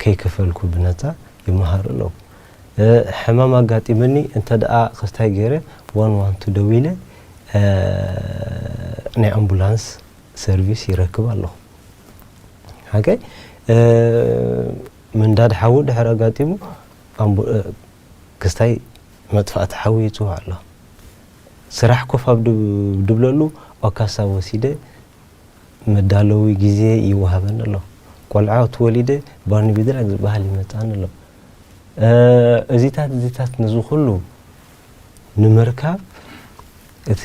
S2: ከይከፈልኩ ብነፃ ይመሃሩ ኣለዉ ሕማም ኣጋጢመኒ እንተድኣ ክስታይ ገይረ ዋን ዋን ቱ ደዊለ ናይ ኣምቡላንስ ሰርቪስ ይረክብ ኣለኹ። ኦኬ ምንዳድ ሓዊ ድሕሪ ኣጋጢሙ ክስታይ መጥፋእቲ ሓዊ ይጽዋዕ ኣሎ። ስራሕ ኮፍ ኣብ ድብለሉ ኦካሳ ወሲደ መዳለዊ ግዜ ይወሃበኒ ኣሎ። ቆልዓት ወሊደ ባርኒቢድራግ ዝበሃል ይመጽኣኒ ኣሎ። እዚታት እዚታት ነዚ ኩሉ ንምርካብ እቲ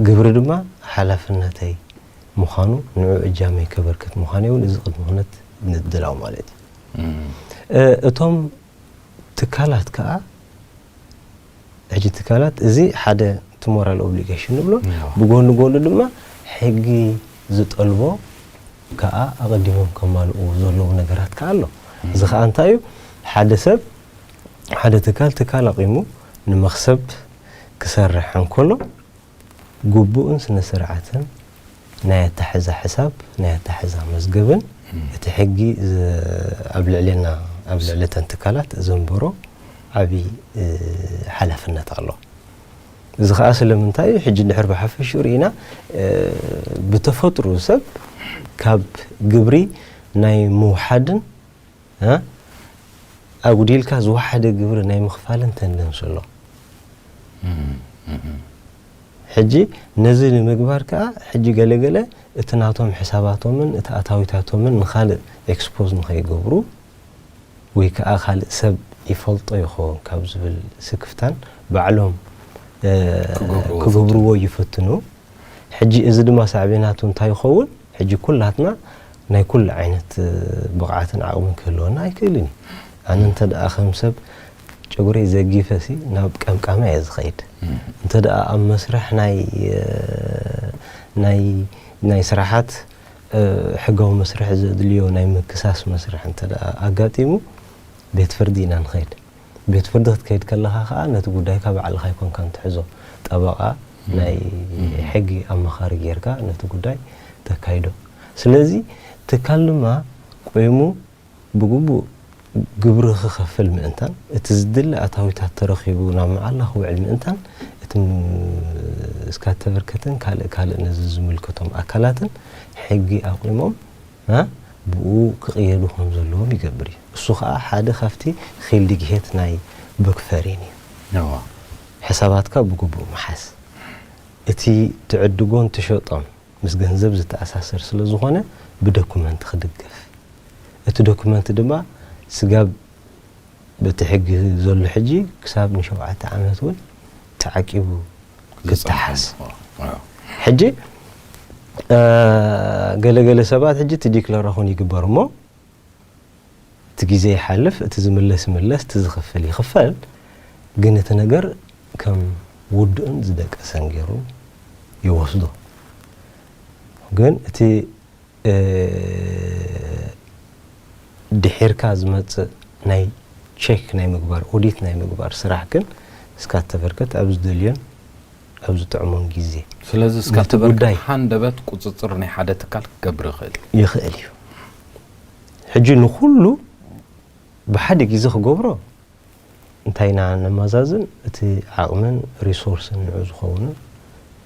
S2: ግብሪ ድማ ሓላፍነተይ ምዃኑ ንዑ እጃመይ ከበርክት ምዃነይ እውን እዚ ቅድመ ኩነት ምድላው ማለት እዩ። እቶም ትካላት ከኣ ሕጂ ትካላት እዚ ሓደ እቲ ሞራል ኦብሊጌሽን ንብሎ ብጎኒ ጎኒ ድማ ሕጊ ዝጠልቦ ከኣ ኣቐዲሞም ከማልእዎ ዘለዎም ነገራት ከኣ ኣሎ እዚ ከኣ እንታይ እዩ ሓደ ሰብ ሓደ ትካል ትካል ኣቚሙ ንመኽሰብ ክሰርሕ እንከሎ ግቡእን ስነስርዓትን ናይ ኣታሕዛ ሕሳብ ናይ ኣታሕዛ መዝገብን እቲ ሕጊ ኣብ ልዕሌና ኣብ ልዕሊ እተን ትካላት ዘንብሮ ዓቢ ሓላፍነት ኣሎ። እዚ ከኣ ስለምንታይ እዩ ሕጂ ድሕር ብሓፈሽኡ ርኢና ብተፈጥርኡ ሰብ ካብ ግብሪ ናይ ምውሓድን ኣጉዲልካ ዝወሓደ ግብሪ ናይ ምኽፋልን ተንደንስ ኣሎ ሕጂ ነዚ ንምግባር ከዓ ሕጂ ገለገለ እቲ ናቶም ሕሳባቶምን እቲ ኣታዊታቶምን ንካልእ ኤክስፖዝ ንኸይገብሩ ወይ ከዓ ካልእ ሰብ ይፈልጦ ይኸውን ካብ ዝብል ስክፍታን ባዕሎም ክገብርዎ ይፍትኑ ሕጂ እዚ ድማ ሳዕቤናቱ እንታይ ይኸውን ሕጂ ኩላትና ናይ ኩሉ ዓይነት ብቕዓትን ዓቕምን ክህልወና ኣይክእልን እዩ። ኣነ እንተ ደኣ ከም ሰብ ጨጉረይ ዘጊፈ ሲ ናብ ቀምቃሚ እየ ዝኸይድ። እንተ ደኣ ኣብ መስርሕ ናይ ናይ ናይ ስራሓት ሕጋዊ መስርሕ ዘድልዮ ናይ ምክሳስ መስርሕ እንተ ደኣ ኣጋጢሙ ቤት ፍርዲ ኢና ንኸይድ። ቤት ፍርዲ ክትከይድ ከለኻ ከኣ ነቲ ጉዳይካ ባዕልኻ ኣይኮንካን ትሕዞ ጠበቓ ናይ ሕጊ ኣማኻሪ ጌርካ ነቲ ጉዳይ ተካይዶ ስለዚ ትካል ድማ ቆይሙ ብግቡእ ግብሪ ክኸፍል ምእንታን እቲ ዝድለ ኣታዊታት ተረኺቡ ናብ መዓላ ክውዕል ምእንታን እቲ እስካተቨርከትን ካልእ ካልእ ነዚ ዝምልከቶም ኣካላትን ሕጊ ኣቑሞም ብኡ ክቕየዱ ከም ዘለዎም ይገብር እዩ። እሱ ኸኣ ሓደ ካብቲ ኺልድግሄት ናይ ቡክፈሪን እዩ።
S1: ሕሳባትካ
S2: ብግቡእ ምሓዝ። እቲ ትዕድጎን ትሸጦን ምስ ገንዘብ ዝተኣሳሰር ስለ ዝኾነ ብደኩመንት ክድገፍ። እቲ ደኩመንት ድማ ስጋብ። በቲ ሕጊ ዘሎ ሕጂ ክሳብ ንሸውዓተ ዓመት እውን ተዓቂቡ ክተሓዝ ሕጂ ገለ ገለ ሰባት ሕጂ እቲ ዲክለራኹን ይግበር እሞ እቲ ግዜ ይሓልፍ እቲ ዝምለስ ይምለስ እቲ ዝኽፍል ይኽፈል ግን እቲ ነገር ከም ውዱእን ዝደቀሰን ገይሩ ይወስዶ ግን እቲ ድሒርካ ዝመጽእ ናይ ቼክ ናይ ምግባር ኦዲት ናይ ምግባር ስራሕ ግን እስካብ ተበርከት ኣብ ዝደልዮን ኣብ ዝጥዕሞን ግዜ ስለዚ እስካብ
S1: ተበርከት ሃንደበት ቁጽጽር ናይ ሓደ ትካል ክገብር ይኽእል እዩ ይኽእል እዩ
S2: ሕጂ ንኹሉ ብሓደ ግዜ ክገብሮ እንታይ ኢና ነማዛዝን እቲ ዓቕምን ሪሶርስን ንዑ ዝኸውንን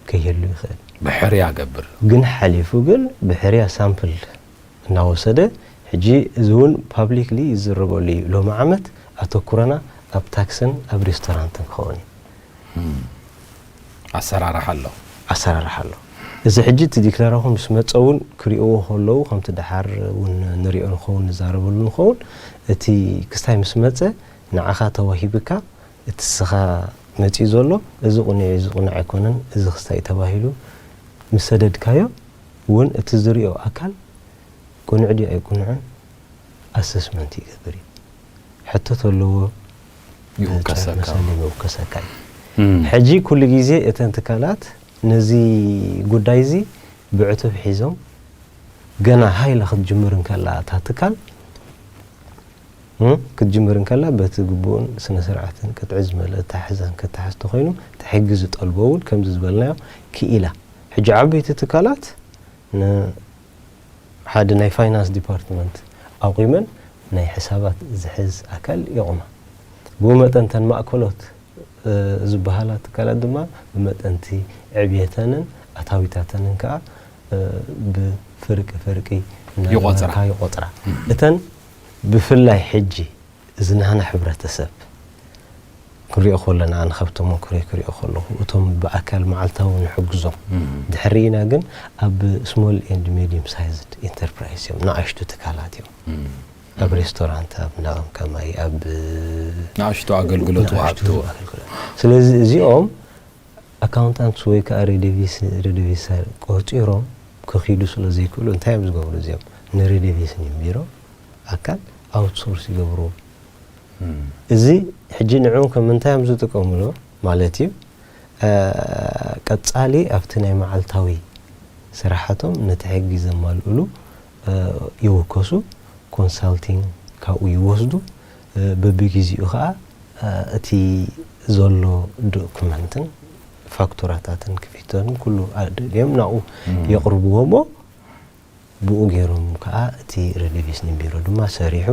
S2: ከይህሉ ይኽእል። ብሕርያ ገብር።
S1: ግን ሓሊፉ
S2: ግን ብሕርያ ሳምፕል እናወሰደ ሕጂ እዚ ውን ፓብሊክሊ ይዝረበሉ እዩ ሎሚ ዓመት ኣተኩሮና ኣብ ታክስን ኣብ ሬስቶራንትን ክኸውን እዩ።
S1: ኣሰራርሓ ኣሎ። ኣሰራርሓ ኣሎ።
S2: እዚ ሕጂ እቲ ዲክለራኹ ምስ መጸ እውን ክሪእዎ ከለዉ ከምቲ ደሓር እውን ንሪኦ ንኸውን ንዛረበሉ ንኸውን እቲ ክስታይ ምስ መጸ ንዓኻ ተዋሂብካ እቲ እስኻ መጺኡ ዘሎ እዚ ቁኑዕ እዩ እዚ ቁኑዕ ኣይኮነን እዚ ክስታይ እዩ ተባሂሉ ምስ ሰደድካዮ እውን እቲ ዝሪኦ ኣካል ቁኑዕ ድዩ ኣይቁኑዕን ኣሰስመንት ይገብር እዩ። ሕቶ ተለዎ? መሰል ይውከሰካ እዩ። ሕጂ ኩሉ ግዜ እተን ትካላት ነዚ ጉዳይ እዚ ብዕቱብ ሒዞም ገና ሃይ ኢላ ክትጅምር እንከላ እታ ትካል ክትጅምር እንከላ በቲ ግቡእን ስነ ስርዓትን ቅጥዒ ዝመልኦ ኣተሓሕዛን ክተሓዝ እንተኾይኑ እቲ ሕጊ ዝጠልቦ እውን ከምዚ ዝበልናዮ ክኢላ ሕጂ ዓበይቲ ትካላት ሓደ ናይ ፋይናንስ ዲፓርትመንት ኣቑመን ናይ ሕሳባት ዝሕዝ ኣካል የቑማ። ብኡ መጠን እተን ማእከሎት ዝበሃላ ትካላት ድማ ብመጠን'ቲ ዕብየተንን ኣታዊታተንን ከኣ ብፍርቂ ፍርቂ እናገበርካ ይቖጽራ። እተን ብፍላይ ሕጂ እዚ ናህና ሕብረተሰብ ክንሪኦ ከሎና ኣነ ካብ ተመኩሮይ ክሪኦ ከለኹ እቶም ብኣካል መዓልታዊ ንሕግዞም ድሕሪና ግን ኣብ ስሞል ኤንድ ሜዲየም ሳይዝድ ኢንተርፕራይዝ እዮም ንኣሽቱ ትካላት እዮም ኣብ ሬስቶራንት ኣብ እንዳቕም ከማይ ኣብ ንኣሽቱ
S1: ኣገልግሎት ወሃብቲ ስለዚ
S2: እዚኦም ኣካውንታንትስ ወይ ከኣ ሬዴቪስ፣ Redovisar፣ ቆጺሮም ክኺዱ ስለ ዘይክእሉ እንታይ እዮም ዝገብሩ እዚኦም ንሬዴቪስ ኒም ቢሮ ኣካል ኣውትሶርስ ይገብርዎ። እዚ ሕጂ ንዕኡ ከም እንታይ እዮም ዝጥቀምሉ ማለት እዩ ቀጻሊ ኣብቲ ናይ መዓልታዊ ስራሓቶም ነቲ ሕጊ ዘማልእሉ ይውከሱ፣ ኮንሳልቲንግ ካብኡ ይወስዱ፣ በብጊዚኡ ከኣ እቲ ዘሎ ዶክመንትን ፋክቱራታትን ክፊተትን ኩሉ ኣደልዮም ናብኡ የቕርብዎ እሞ ብኡ ገይሮም ከኣ እቲ ረዲቪስኒን ቢሮ ድማ ሰሪሑ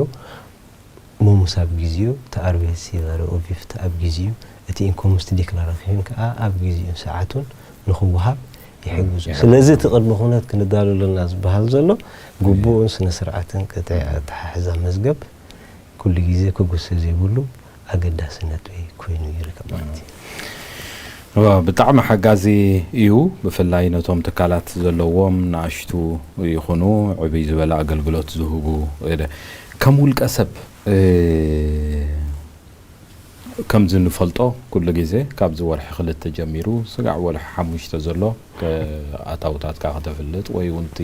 S2: ሞሙስ ኣብ ጊዚኡ፣ እቲ ኣርቤትሲላረ ኡቪፍት ኣብ ጊዚኡ፣ እቲ ኢንኮሙስትዲክላራፊዮን ከኣ ኣብ ጊዚኡን ሰዓቱን ንኽወሃብ ይሕግዙ። ስለዚ እቲ ቅድመ ኩነት ክንዳሎ ኣለና ዝበሃል ዘሎ ግቡእን ስነ-ስርዓትን ቅጥዒ ኣተሓሕዛ መዝገብ ኩሉ ጊዜ ክጉሰ ዘይብሉ ኣገዳሲ ነጥቢ ኮይኑ ይርከብ ማለት እዩ። ብጣዕሚ
S1: ሓጋዚ እዩ ብፍላይ ነቶም ትካላት ዘለዎም ናእሽቱ ይኹኑ ዕብይ ዝበለ ኣገልግሎት ዝህቡ። ከም ውልቀ ሰብ ከምዚ ንፈልጦ ኩሉ ግዜ ካብዚ ወርሒ ክልተ ጀሚሩ ስጋዕ ወርሒ ሓሙሽተ ዘሎ ኣታውታትካ ከተፍልጥ ወይ ውን እቲ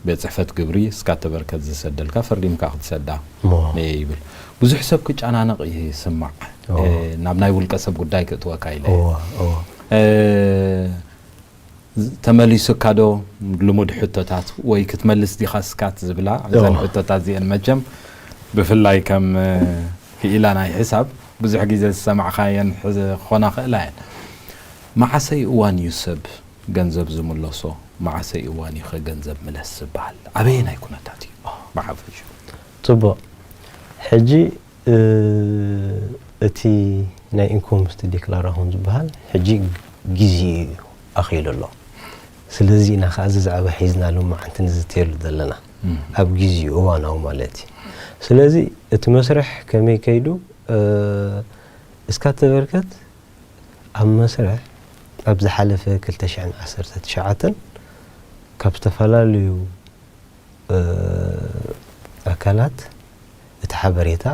S1: ቤት ጽሕፈት ግብሪ እስካ እተበርከት ዝሰደልካ ፈሪምካ ክትሰዳ እየ ይብል ብዙሕ ሰብ ክጨናነቕ ይስማዕ ናብ ናይ ውልቀ ሰብ ጉዳይ ክእትወካ ኢለ እየ ተመሊሱካዶ ልሙድ ሕቶታት ወይ ክትመልስ ዲኻ ስካት ዝብላ እዘን ሕቶታት እዚኤን መቸም ብፍላይ ከም ክኢላ ናይ ሕሳብ ብዙሕ ግዜ ዝሰማዕኻየን ክኾና ይኽእላ እየን። መዓሰይ እዋን እዩ ሰብ ገንዘብ ዝምለሶ? መዓሰይ እዋን እዩኸ ገንዘብ ምለስ ዝበሃል? ኣበየናይ ኩነታት እዩ ብሓፈሽኡ? ጽቡቕ
S2: ሕጂ እቲ ናይ ኢንኮምስት ዲክላራሆን ዝበሃል ሕጂ ግዜኡ እዩ ኣኺሉ ኣሎ። ስለዚ ኢና ከኣ እዚ ዛዕባ ሒዝና ሎማዓንቲ ንዝትየሉ ዘለና። ኣብ ግዜኡ እዋናዊ ማለት እዩ። ስለዚ እቲ መስርሕ ከመይ ከይዱ እስካተበርከት ኣብ መስርሕ ኣብ ዝሓለፈ ክልተ ሽሕን ዓሰርተ ትሽዓተን ካብ ዝተፈላለዩ ኣካላት እቲ ሓበሬታ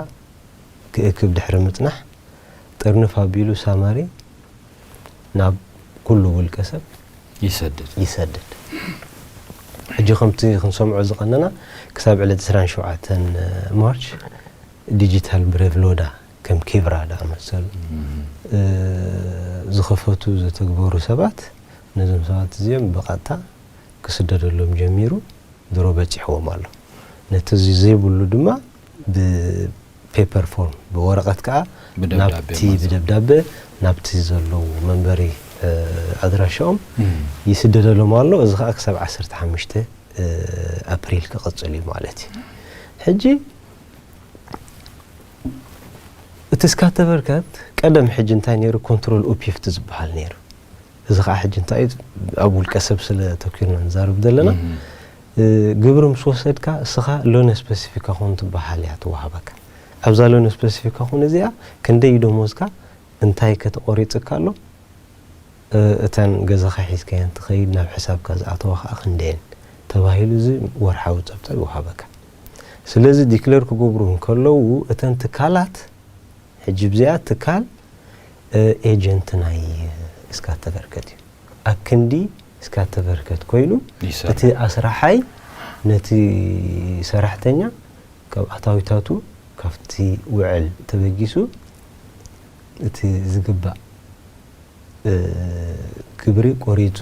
S2: ክእክብ ድሕሪ ምጽናሕ፣ ጥርንፍ ኣቢሉ ሳማሪ ናብ ኩሉ ውልቀሰብ ይሰድድ። ይሰድድ። ሕጂ ከምቲ ክንሰምዖ ዝቐነና ክሳብ ዕለት ዕስራን ሸውዓተን ማርች ዲጂታል ብሬቭሎዳ ከም ኪብራ ዝኣመሰሉ ዝኸፈቱ ዝተግበሩ ሰባት ነዞም ሰባት እዚኦም ብቐጥታ ክስደደሎም ጀሚሩ ድሮ በጺሕዎም ኣሎ ነቲ እዚ ዘይብሉ ድማ ብ ፔፐር ፎርም ብወረቀት ከኣ ናብቲ ብደብዳበ ናብቲ ዘለዉ መንበሪ ኣድራሻኦም ይስደደሎም ኣሎ እዚ ከኣ ክሳብ ዓሰርተ ሓሙሽተ ኣፕሪል ክቅጽል እዩ ማለት እዩ ሕጂ እቲ ስካተቨርከት ቀደም ሕጂ እንታይ ነይሩ ኮንትሮል ኡፒፍቲ ዝበሃል ነይሩ እዚ ከኣ ሕጂ እንታይ እዩ ኣብ ውልቀ ሰብ ስለ ተኪርና ንዛረብ ዘለና ግብሪ ምስ ወሰድካ እስኻ ሎነ ስፐሲፊካ ኩን ትበሃል እያ ትወሃበካ ኣብዛ ሎነ ስፐሲፊካ ኩን እዚኣ ክንደይ እዩ ደሞዝካ እንታይ ከ ተቆሪጽካ ኣሎ እተን ገዛኻ ሒዝካየን ትኸይድ ናብ ሕሳብካ ዝኣተዋ ከኣ ክንደየን ተባሂሉ እዚ ወርሓዊ ጸብጻብ ይወሃበካ ስለዚ ዲክለር ክገብሩ እንከለዉ እተን ትካላት ሕጂ ብዚኣ ትካል ኤጀንት ናይ እስካተቨርከት እዩ። ኣብ ክንዲ እስካተቨርከት ኮይኑ እቲ ኣስራሓይ ነቲ ሰራሕተኛ ካብ ኣታዊታቱ ካብቲ ውዕል ተበጊሱ እቲ ዝግባእ ግብሪ ቆሪጹ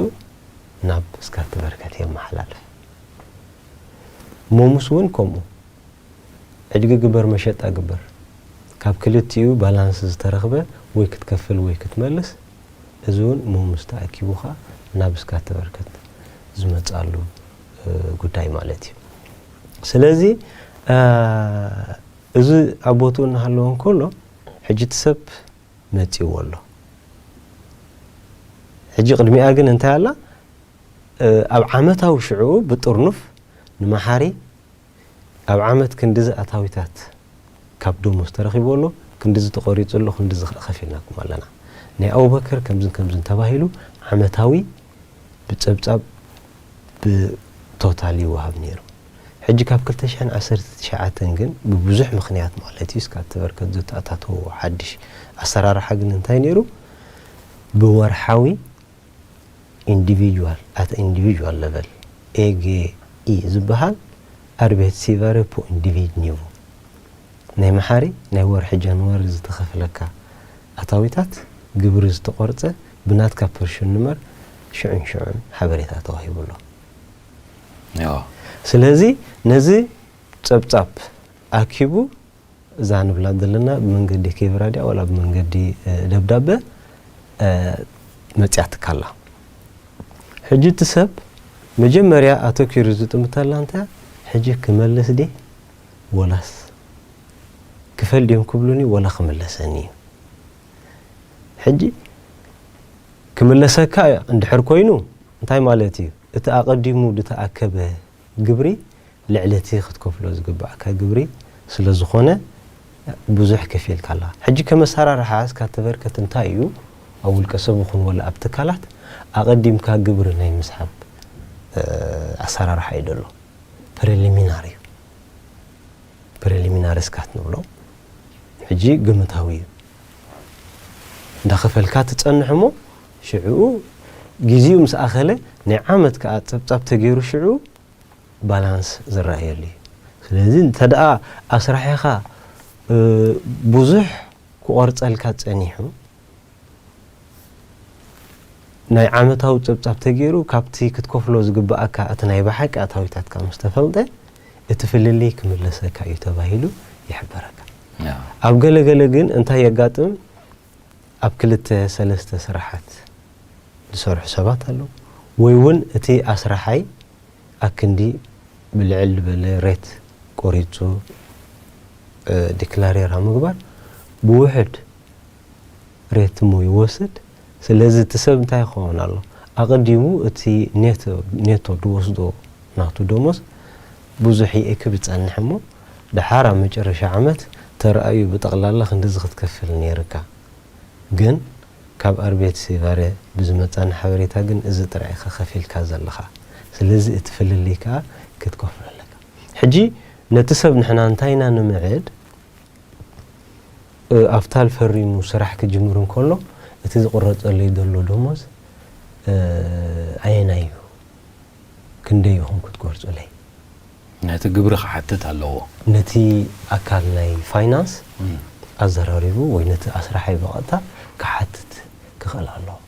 S2: ናብ እስካተቨርከት የመሓላልፍ። ሞምስ እውን ከምኡ። ዕድጊ ግበር መሸጣ ግበር ካብ ክልቲኡ ባላንስ ዝተረኽበ ወይ ክትከፍል ወይ ክትመልስ እዚ ውን ሙሙስ ተኣኪቡካ ናብ እስካት ተበርከት ዝመጻሉ ጉዳይ ማለት እዩ ስለዚ እዚ ኣብ ቦትኡ እናሃለወ እንከሎ ሕጂ እቲ ሰብ መጺዎ ኣሎ ሕጂ ቅድሚኣ ግን እንታይ ኣላ ኣብ ዓመታዊ ሽዑኡ ብጥርኑፍ ንመሓሪ ኣብ ዓመት ክንድዚ ኣታዊታት ካብ ደሞዝ ተረኺብዎ ኣሎ፣ ክንድዚ ተቖሪጹ ኣሎ፣ ክንድዚ ከኣ ከፊልናኩም ኣለና። ናይ ኣቡበከር ከምዝን ከምዝን ተባሂሉ ዓመታዊ ብጸብጻብ ብቶታል ይወሃብ ነይሩ። ሕጂ ካብ ክልተ ሽሕን ዓሰርተ ትሽዓተን ግን ብብዙሕ ምኽንያት ማለት'ዩ እስካብ ተበርከት ዘተኣታተዎ ሓድሽ ኣሰራርሓ ግን እንታይ ነይሩ ብወርሓዊ ኢንዲቪድዋል፣ ኣት ኣን ኢንዲቪድዋል ለቨል፣ ኤገኢ፣ ዝበሃል ኣርቤትሲቫረ ፑ ኢንዲቪድኒቮ፣ ናይ መሓሪ ናይ ወርሒ ጃንዋሪ ዝተኸፍለካ ኣታዊታት ግብሪ ዝተቖርጸ ብናትካ ፐርሹንመር ሽዑን ሽዑን ሓበሬታ ተዋሂቡ ኣሎ። ስለዚ ነዚ ጸብጻብ ኣኪቡ እዛ ንብላ ዘለና ብመንገዲ ኬብራ ድያ ዋላ ብመንገዲ ደብዳበ መጺኣትካ ኣላ። ሕጂ እቲ ሰብ መጀመርያ ኣተኲሩ ዝጥምተላ እንታይ ሕጂ ክመልስ ድየ ወላስ ክፈል ድዮም ክብሉኒ ወላ ክምለሰኒ እዩ። ሕጂ ክምለሰካ እንድሕር ኮይኑ እንታይ ማለት እዩ እቲ ኣቐዲሙ ዝተኣከበ ግብሪ ልዕሊ እቲ ክትከፍሎ ዝግብኣካ ግብሪ ስለዝኾነ ብዙሕ ከፊልካ ኣለኻ። ሕጂ ከም ኣሰራርሓ እስካ ተበርከት እንታይ እዩ ኣብ ውልቀ ሰብ ይኹን ወላ ኣብ ትካላት ኣቐዲምካ ግብሪ ናይ ምስሓብ ኣሰራርሓ እዩ ዘሎ። ፕሪሊሚናሪ እዩ። ፕሪሊሚናሪ ስካት ንብሎ። ሕጂ ግምታዊ እዩ። እንዳኸፈልካ ትጸንሕ እሞ፣ ሽዕኡ ግዜኡ ምስ ኣኸለ ናይ ዓመት ከኣ ጸብጻብ ተገይሩ ሽዑ ባላንስ ዝረኣየሉ እዩ። ስለዚ እንተደኣ ኣስራሒኻ ብዙሕ ክቆርጸልካ ጸኒሑ ናይ ዓመታዊ ጸብጻብ ተገይሩ ካብቲ ክትከፍሎ ዝግበኣካ እቲ ናይ ብሓቂ ኣታዊታትካ ምስ ተፈልጠ እቲ ፍልልይ ክምለሰካ እዩ ተባሂሉ ይሕበረካ። ኣብ ገለገለ ግን እንታይ የጋጥም ኣብ ክልተ ሰለስተ ስራሓት ዝሰርሑ ሰባት ኣለዉ ወይ ውን እቲ ኣስራሓይ ኣክንዲ ብልዕል ልበለ ሬት ቆሪጹ ዲክላሬር ኣብ ምግባር ብውሕድ ሬት እሞ ይወስድ ስለዚ እቲ ሰብ እንታይ ክኸውን ኣለዎ ኣቀዲሙ እቲ ኔቶ ድወስዶ ናቱ ደሞዝ ብዙሕ ይእክብ ይጸንሕ እሞ ደሓር ኣብ መጨረሻ ዓመት ተራእዩ ብጠቕላላ ክንድዚ ክትከፍል ነይርካ ግን ካብ ኣርቤትስይቫሬ ብዝመጻኒ ሓበሬታ ግን እዚ ጥራይ ኢኻ ከፊልካ ዘለኻ ስለዚ እቲ ፍልልይ ከኣ ክትከፍሎ ኣለካ ሕጂ ነቲ ሰብ ንሕና እንታይ ኢና ንምዕድ ኣፍታል ፈሪሙ ስራሕ ክጅምር እንከሎ እቲ ዝቕረጸለይ ዘሎ ደሞዝ ኣየናይ እዩ ክንደይ ኢኹም ክትጎርጹለይ? ነቲ
S1: ግብሪ ክሓትት ኣለዎ። ነቲ
S2: ኣካል ናይ ፋይናንስ ኣዘራሪቡ ወይ ነቲ ኣስራሓይ ብቐጥታ ክሓትት ክኽእል ኣለዎ።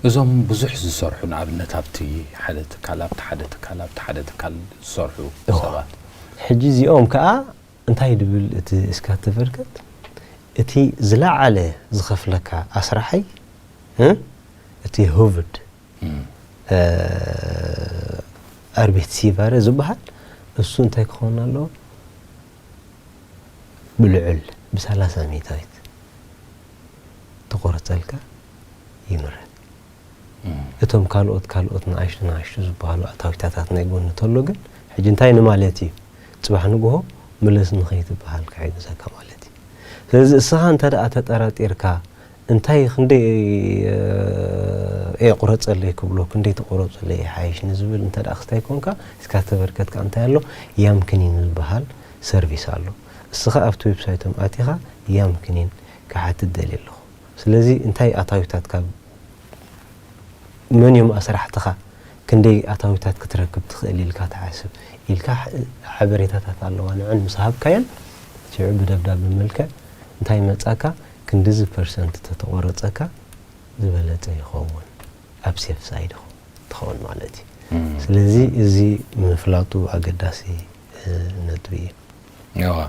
S2: እዞም ብዙሕ ዝሰርሑ
S1: ንኣብነት ኣብቲ ሓደ ትካል ኣብቲ ሓደ ትካል ኣብቲ ሓደ ትካል ዝሰርሑ ሰባት። ሕጂ እዚኦም
S2: ከኣ እንታይ ድብል እቲ እስካትቨርከት እቲ ዝለዓለ ዝኸፍለካ ኣስራሓይ እቲ ሁቭድ ኣርቤትሲቫረ ዝብሃል እሱ እንታይ ክኸውን ኣለዎ ብልዑል ብሰላሳ ሚታዊት ተቆርፀልካ ይምረት እቶም ካልኦት ካልኦት ንኣሽቱ ንኣሽቱ ዝበሃሉ ኣታዊታታት ናይ ጎኒ ተሎ ግን ሕጂ እንታይ ንማለት እዩ ፅባሕ ንግሆ ምለስ ንኸይትበሃል ክሕግዘካ ማለት እዩ ስለዚ እስኻ እንተ ደኣ ተጠራጢርካ እንታይ ክንደይ እየ ቁረጸለይ ክብሎ ክንደይ ተቆረጹለይ ይሓይሽ ንዝብል እንተ ክስታይ ኮንካ እስካ ዝተበርከትካ እንታይ ኣሎ ያም ክኒን ዝበሃል ሰርቪስ ኣሎ እስኻ ኣብቲ ዌብሳይቶም ኣቲኻ ያም ክኒን ክሓትት ደልየ ኣለኹ ስለዚ እንታይ ኣታዊታት ካብ መን እዮም ኣስራሕትኻ ክንደይ ኣታዊታት ክትረክብ ትኽእል ኢልካ ትሓስብ ኢልካ ሓበሬታታት ኣለዋ ንዐን ምስ ሃብካየን ሽዑ ብደብዳቤ መልክዕ እንታይ መጻካ ክንድዚ ፐርሰንት ተተቆረፀካ ዝበለፀ ይኸውን ኣብ ሴፍ ሳይድ ኢኹም ትኸውን ማለት እዩ ስለዚ እዚ ምፍላጡ ኣገዳሲ ነጥቢ እዩ እወ።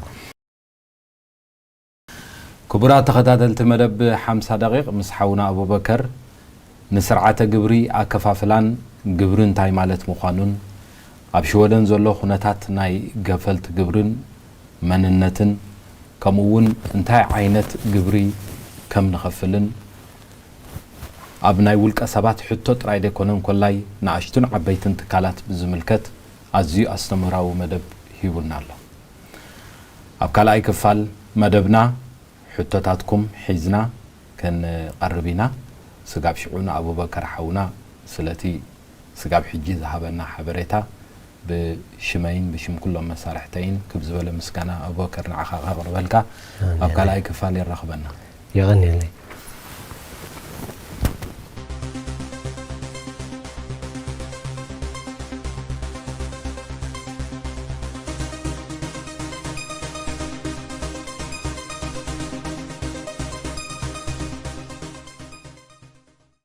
S1: ክቡራት ተኸታተልቲ መደብ ሓምሳ ደቒቕ ምስ ሓውና ኣቡበከር ንስርዓተ ግብሪ ኣከፋፍላን ግብሪ እንታይ ማለት ምዃኑን ኣብ ሽወደን ዘሎ ኩነታት ናይ ገፈልቲ ግብርን መንነትን ከምኡ እውን እንታይ ዓይነት ግብሪ ከም ንኸፍልን ኣብ ናይ ውልቀ ሰባት ሕቶ ጥራይ ዘይኮነ እንኮላይ ንኣሽቱን ዓበይትን ትካላት ብዝምልከት ኣዝዩ ኣስተምህራዊ መደብ ሂቡና ኣሎ። ኣብ ካልኣይ ክፋል መደብና ሕቶታትኩም ሒዝና ክንቐርብ ኢና። ስጋብ ሽዑ ንኣቡበከር ሓውና ስለቲ ስጋብ ሕጂ ዝሃበና ሓበሬታ ብሽመይን ብሽም ኩሎም መሳርሕተይን ክብ ዝበለ ምስጋና ኣቡበከር ንዓኻ
S2: ከቅርበልካ
S1: ኣብ ካልኣይ ክፋል የራኽበና። የቐንየለይ።